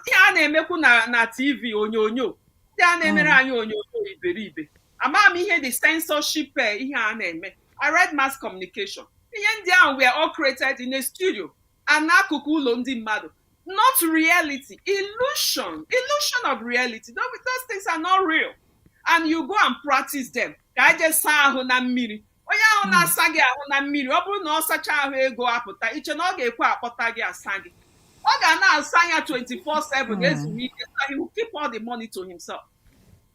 ihe a na-emekwu na tv onyonyo ndị a na-emere hmm. anyị onyonyo iberibe amaghị m ihe the censorship eh, ihe a na-eme I read mass communication ihe ndị ahụ were all created in a studio and n'akụkụ ụlọ ndị mmadụ not reality illusion illusion of reality those, those things are not real and you go and practice them ka i jee saa ahụ na mmiri onye ahụ na-asa gị ahụ na mmiri ọ bụrụ na ọ sacha ahụ ego apụta i che na ọ ga-ekwe akpọta gị asa gị ọ ga na-asa ya 24/7 ezuru ike so he will keep all the money to himself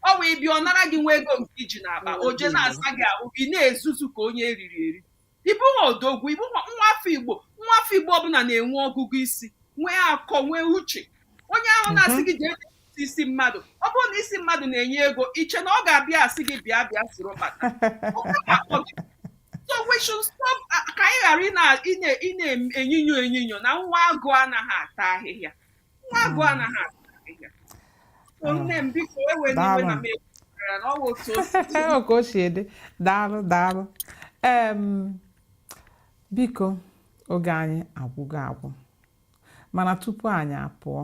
ọ bụ ebe ọ nara gị nwa ego nke i ji n'akpa o je na-asa gị ahụ ị na-ezuzu ka onye eriri eri ị bụ nwa odogwu ị bụ nwa nwa afọ igbo nwa afọ igbo ọ bụla na-enwe ọgụgụ isi nwee akọ nwee uche onye ahụ na-asị gị jee tụtụ isi mmadụ ọ bụrụ na isi mmadụ na-enye ego i che na ọ ga-abịa asị gị bịa bịa soro kpata Ọ ga-akpọ gị. so we should stop uh, ka anyị ghara ị na- ị na- ị na-enyinyo enyinyo na nwa agụ anaghị ata ahịhịa nwa agụ hmm. anaghị ah. nne m biko ewena iwe na m ekwukwara na ọ bụ otu oke o si ede daalụ daalụ biko oge anyị agwụgo agwụ mana tupu anyị apụọ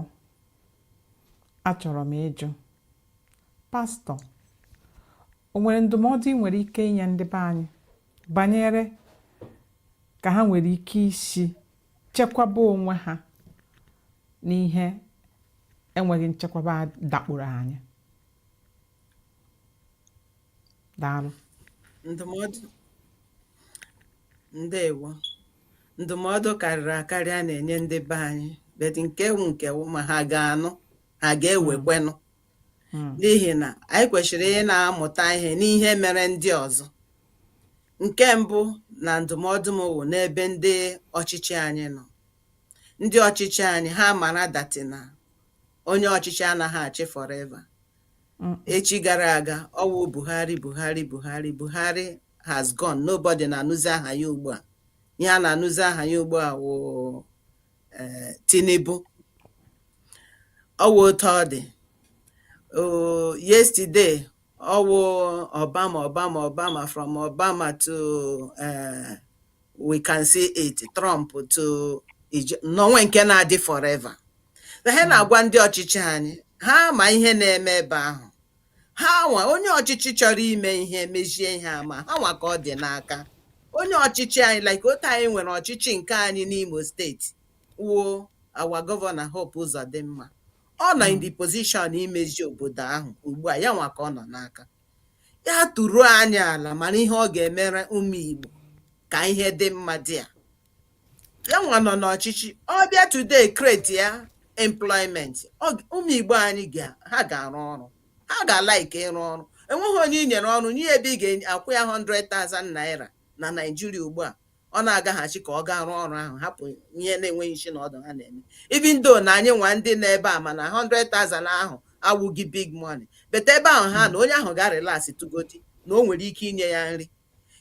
achọrọ m ịjụ pastọ o nwere ndụmọdụ ị nwere ike inye ndị be anyị banyere ka ha nwere ike isi chekwaba onwe ha n'ihe enweghị nchekwaba dakporo anyị daalụ ndụmọdụ ndewo ndụmọdụ karịrị akarị a na-enye ndị be anyị but nke wụ nke wụ ma ha ga-anụ ha ga-ewekwenụ hmm. n'ihi na anyị kwesịrị ị na-amụta ihe n'ihe mere ndị ọzọ nke mbụ na ndụmọdụ m wụ n'ebe ndị ọchịchị anyị nọ ndị ọchịchị anyị ha mara that na onye ọchịchị anaghị achị forever hmm. echi gara aga ọ wụ Buhari Buhari Buhari Buhari has gone nobody na-anụzi aha ya ugbu a ihe a na-anụzi aha ya ugbu a wụ um Tinubu ọ wụ otu ọ dị um yesterday ọ wụ Obama Obama Obama from Obama to um we can see it Trump to na o nweghị nke na-adị forever. Ihe a na-agwa ndị ọchịchị anyị ha ma ihe na-eme ebe ahụ ha nwa onye ọchịchị chọrọ ime ihe mezie ihe ama ha nwa ka ọ dị n'aka onye ọchịchị anyị like otu anyị nwere ọchịchị nke anyị n'Imo steeti wụ our gọvanọ Hope Uzodimma ọ nọ in the position imezi obodo ahụ ugbu a ya nwa ka ọ nọ n'aka ya tụruo anya ala mara ihe ọ ga-emere ụmụ Igbo ka ihe dị mma dị a ya nwa nọ n'ọchịchị ọ bịa today create ya employment Ọ- ụmụ igbo anyị ga ha ga-arụ ọrụ ha ga-alike ịrụ ọrụ enweghị onye i nyere ọrụ nye ebe ị ga-akwụ ya 100,000 naira na Naịjirịa ugbu a ọ na-agaghachi ka ọ gaa rụọ ọrụ ahụ hapụ ihe na-enweghị isi na ọdụ ha na-eme even though na anyị nwa ndị nọ ebe a mana 100,000 ahụ awụghị big money but ebe ahụ ha na onye ahụ ga relax tugodi na o nwere ike inye ya nri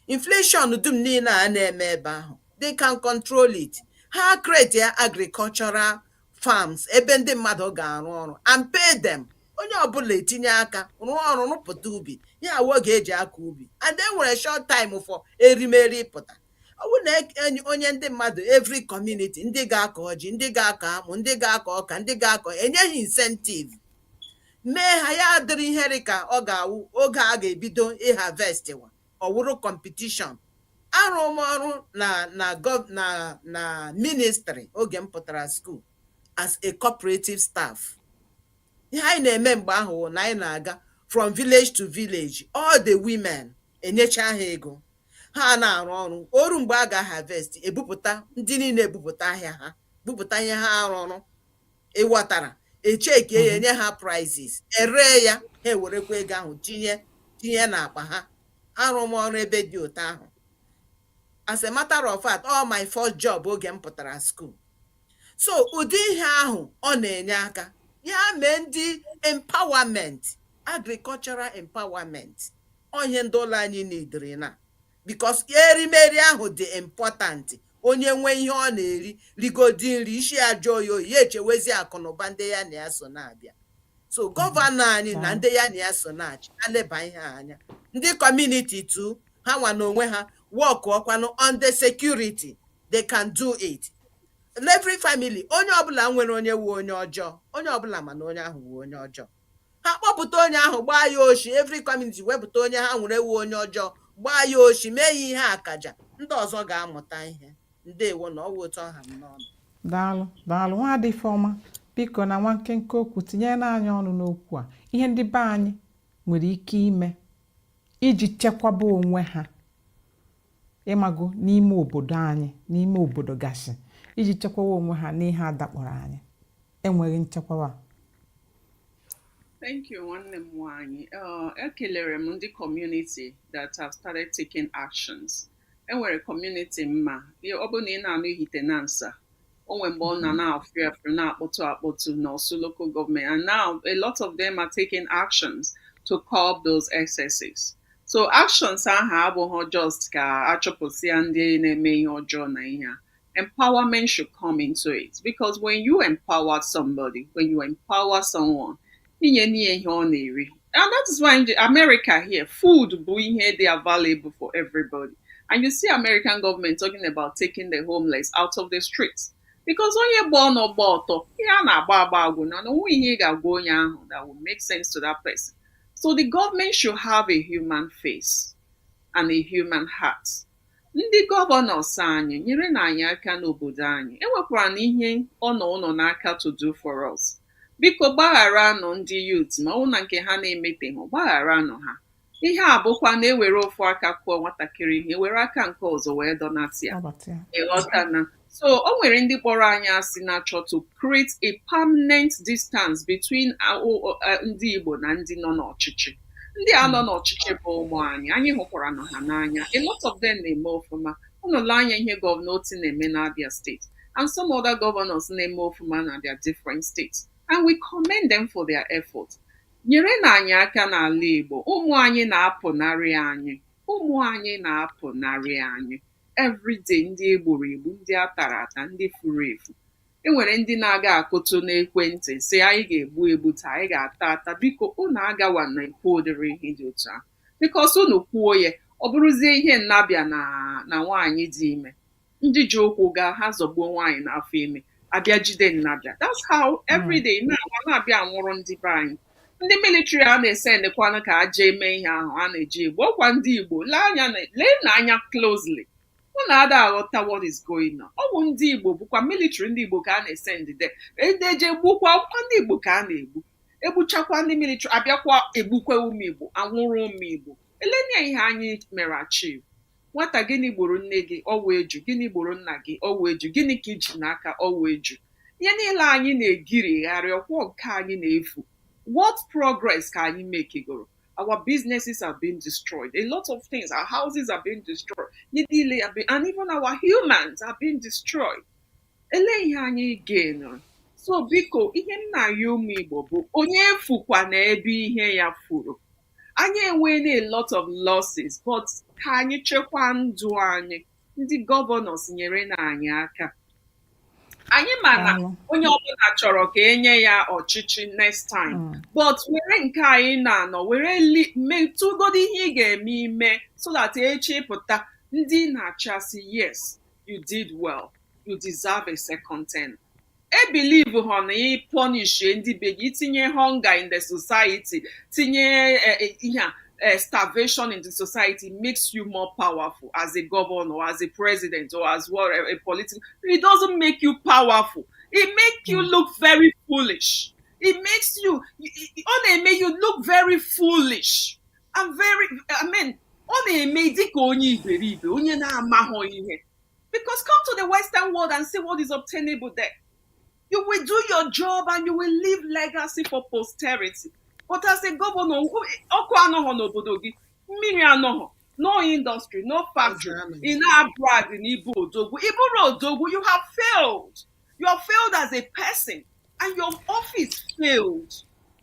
inflation dum niile a na-eme ebe ahụ they can control it ha create ya agricultural farms ebe ndị mmadụ ga-arụ ọrụ and pay them onye ọbụla etinye aka rụọ ọrụ rụpụta ubi ihe a wụ oge e ji akọ ubi and e nwere short time before erimeri pụta ọ bụrụ na e- enyi- onye ndị mmadụ every community ndị ga-akọ ji ndị ga-akọ akpụ ndị ga-akọ ọka ndị ga-akọ enye gị incentive nye ha ya adịrị ihe dị ka ọ ga-awụ oge a ga-ebido ịharvestwa ọ wụrụ competition arụ m ọrụ na na gọv na na ministry oge m pụtara school as a cooperative staff ihe anyị na-eme mgbe ahụ wụ na anyị na-aga from village to village all the women enyecha ha ego ha na-arụ ọrụ o ruo mgbe a ga-aharvest ebupụta ndị niile ebupụta ahịa ha bupụta ihe ha rụrụ ị ghọtara echeckie ya enye ha prizes eree ya ha ewerekwa ego ahụ tinye tinye n'akpa ha arụ m ọrụ ebe dị otu ahụ as a matter of fact ọ wụ my first job oge m pụtara school so ụdị ihe ahụ ọ na-enye aka ya mee ndị empowerment agricultural empowerment ọ ihe ndị ụlọ anyị neediri now because erimeri ahụ dị important onye nwee ihe ọ na-eri rigodi nri isi ya ajụọ oyi ya echewezi akụnụba ndị ya na ya so na-abịa so gọvanọ anyị na ndị ya na ya so na-achị ha leba ihe a anya ndị community too ha nwa n'onwe ha workụọkwanụ on the security they can do it every family onye ọbụla nwere onye wu onye ọjọọ onye ọbụla ma onye ahụ wu onye ọjọọ ha kpọpụta onye ahụ gbaa ya oshi every community wepụta onye ha nwere wu onye ọjọọ gbaa ya oshi mee ya ihe akaja ndị ọzọ ga-amụta ihe ndewo na ọ wụ otu ọ ha m n'ọnụ daalụ daalụ nwaada Ifeọma biko na nwa nkenke okwu tinyere anyị ọnụ n'okwu a ihe ndị be anyị nwere ike ime iji chekwaba onwe ha ịmago n'ime obodo anyị n'ime obodo gasị iji chekwawa onwe ha n'ihe a dakpọrọ anyị enweghị nchekwawa Thank you, nwanne m nwanyị. Uh, ekelere m ndị community that have started taking actions. Enwere community m ma. Ọ bụrụ na ị na-anụ Ihitenansa, o nwere mgbe ọ na na-afụ afụ na-akpọtụ akpọtụ n'Orsu local government and now a lot of them are taking actions to curb those excesses so actions ahụ abụghị just ka achụpụsịa ndị na-eme ihe ọjọọ na ihe a empowerment should come into it because when you empower somebody when you empower someone i nyena ya ihe ọ na-eri and that is why in America here food bụ ihe dị available for everybody and you see American government talking about taking the homeless out of the streets because onye gba ọnụ gba ọtọ ihe a na-agba agba agwụna o nweghị ihe ị ga-agwa onye ahụ that will make sense to that person so the government should have a human face and a human heart ndị governors anyị nyerenụ anyị aka n'obodo anyị enwekwaranụ ihe ọ nọ unu n'aka to do for us biko gbagharanụ ndị youth ma ọ bụ na nke ha na-emeteghị gbagharanụ ha ihe a bụkwa na e were ofu aka kụọ nwatakịrị ihe were aka nke ọzọ wee dọnata ya Nabata ya. ị ghọtana So o nwere ndị kpọrọ anyị asị na-achọ to create a permanent distance between ndị Igbo na ndị nọ n'ọchịchị ndị a nọ hmm. n'ọchịchị bụ ụmụ anyị anyị hụkwaranụ ha n'anya a lot of them na-eme ọfụma unu lee anya ihe gọvanọ Otti na-eme n'Abia steeti and some other governors na-eme ọfụma na their different states and we commend them for their effort nyerenụ anyị aka n'ala Igbo ụmụ anyị na-apụnarị anyị ụmụ anyị na-apụnarị anyị everyday ndị e gburu egbu ndị a tara ata ndị furu efu e nwere ndị na-aga akụtụ n'ekwentị sị anyị ga-egbu egbu taa anyị ga-ata ata biko unu agawana ikwu ụdịrị ihe dị otu ahụ because unu kwuo ya ọ bụrụzie ihe nnabe na nwaanyị dị ime ndị ji ụkwụ gaa ha zọgbuo nwaanyị n'afọ ime a bịa jide nnabe that's how everyday n'ụwa a na-abịa anwụrụ ndị be anyị ndị military a na-esendịkwanụ ka aja eme ihe ahụ a na-eje igbu ọkwa ndị igbo lee anya na- leenụ anya closely unu ada aghọta what is going on ọ bụ ndị igbo bụkwa military ndị igbo ka a na-esendị e je gbukwa ọkwa ndị igbo ka a na-egbu egbuchakwa ndị military abịakwa egbukwa ụmụ igbo anwụrụ ụmụ igbo eleenụ ihe anyị mere achieve nwata gịnị gburu nne gị ọ wụ eju gịnị gburu nna gị ọ wụ eju gịnị ka i ji n'aka ọ wụ eju ihe niile anyị na-egirigharị ọkwa nke anyị na-efu what progress ka anyị mekigoro our businesses are being destroyed a lot of things our houses are being destroyed ihe niile are being, and even our humans are being destroyed elee ihe anyị gainụrụ so biko ihe m na-ayọ ụmụ igbo bụ onye efukwana ebe ihe ya furu anyị enweela a lot of losses but ka anyị chekwaa ndụ anyị ndị gọvanọs nyerenụ anyị aka anyị ma na Daalụ. onye ọbụla chọrọ ka e nye ya ọchịchị next time Mm. but were nke anyị na-anọ were li- metụgodo ihe ị ga-eme ime so that echi ị pụta ndị na-achasị yes you did well you deserve a second term e believe ha na ị punish ndị be gị itinye hunger in the society tinye eh, eh, ihe a eh, starvation in the society makes you more powerful as a governor or as a president or as what a, a political it doesn't make you powerful it makes you look very foolish it makes you ọ na-eme you look very foolish I'm very I mean ọ na-eme dịka onye iberibe onye na-amaghọ ihe because come to the western world and see what is obtainable there you will do your job and you will leave legacy for posterity but as a gọvanọ ọkụ anọghọ n'obodo gị mmiri anọghọ no industry no factory ị na-abrag na ị bụ odogwu ị bụrụ odogwu you have failed you have failed as a person and your office failed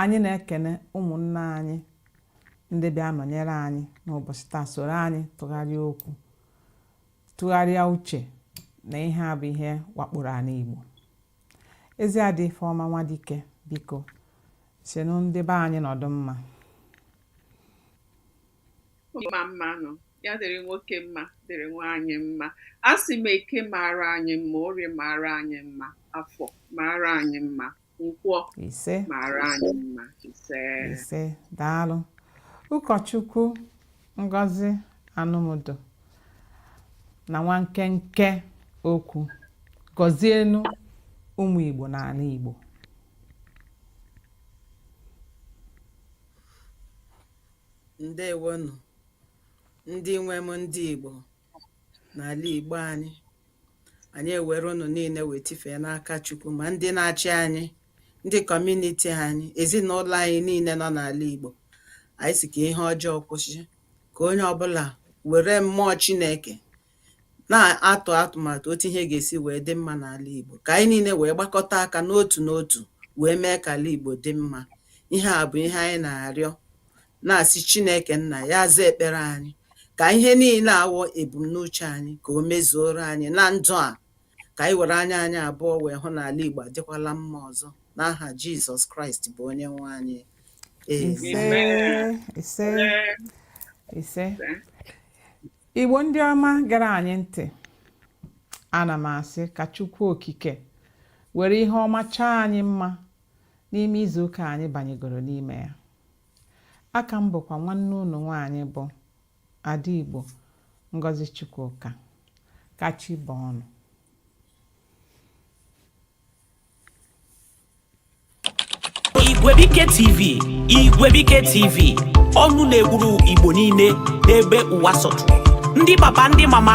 Anyị na-ekene ụmụnna anyị ndị bịa nọnyere anyị n'ụbọchị taa soro anyị tụgharịa okwu tụgharịa uche na ihe a bụ ihe wakporo anị Igbo ezi ada Ifeọma Nwadike biko sịnụ ndị be anyị nọdụ mma mma mma nụ ya dịrị nwoke mma dịrị nwaanyị mma a sị m eke mara anyị mma orie mara anyị mma afọ mara anyị mma nkwọ ise mara anyị mma ise ise daalụ ụkọchukwu ngozi anumudu na nwa nkenke okwu gọzienụ ụmụ igbo n'ala igbo ndewonụ ndị nwe m ndị igbo n'ala Igbo anyị anyị ewere ụnụ niile wee tifee n'aka Chukwu ma ndị na-achị anyị ndị kọmuniti anyị ezinụlọ anyị niile nọ n'ala Igbo anyị sị ka ihe ọjọọ kwụsị ka onye ọbụla were mmụọ Chineke na-atụ atụmatụ otu ihe ga-esi wee dị mma n'ala Igbo ka anyị niile wee gbakọta aka n'otu n'otu wee mee ka ala Igbo dị mma ihe a bụ ihe anyị na-arịọ na-asị Chineke Nna ya zaa ekpere anyị ka ihe niile a wụ ebumnuche anyị ka o mezuoro anyị na ndụ a ka anyị were anya anyị abụọ wee hụ na ala Igbo adịkwala mma ọzọ n'aha Jizọs Kraịst bụ onye nwe anyị Amen. ise ise ise igbo ndị ọma ṅara anyị ntị ana m asị ka chukwu okike were ihe ọma chọọ anyị mma n'ime izuụka anyị banyegoro n'ime ya Aka m bụkwa nwanne unu nwaanyị bụ Ada Igbo Ngozi Chukwuka ka chi bọọ nụ Igwebuike TV Igwebuike TV ọnụ na-ekwuru Igbo niile n'ebe ụwa sọtụrụ ndị papa ndị mama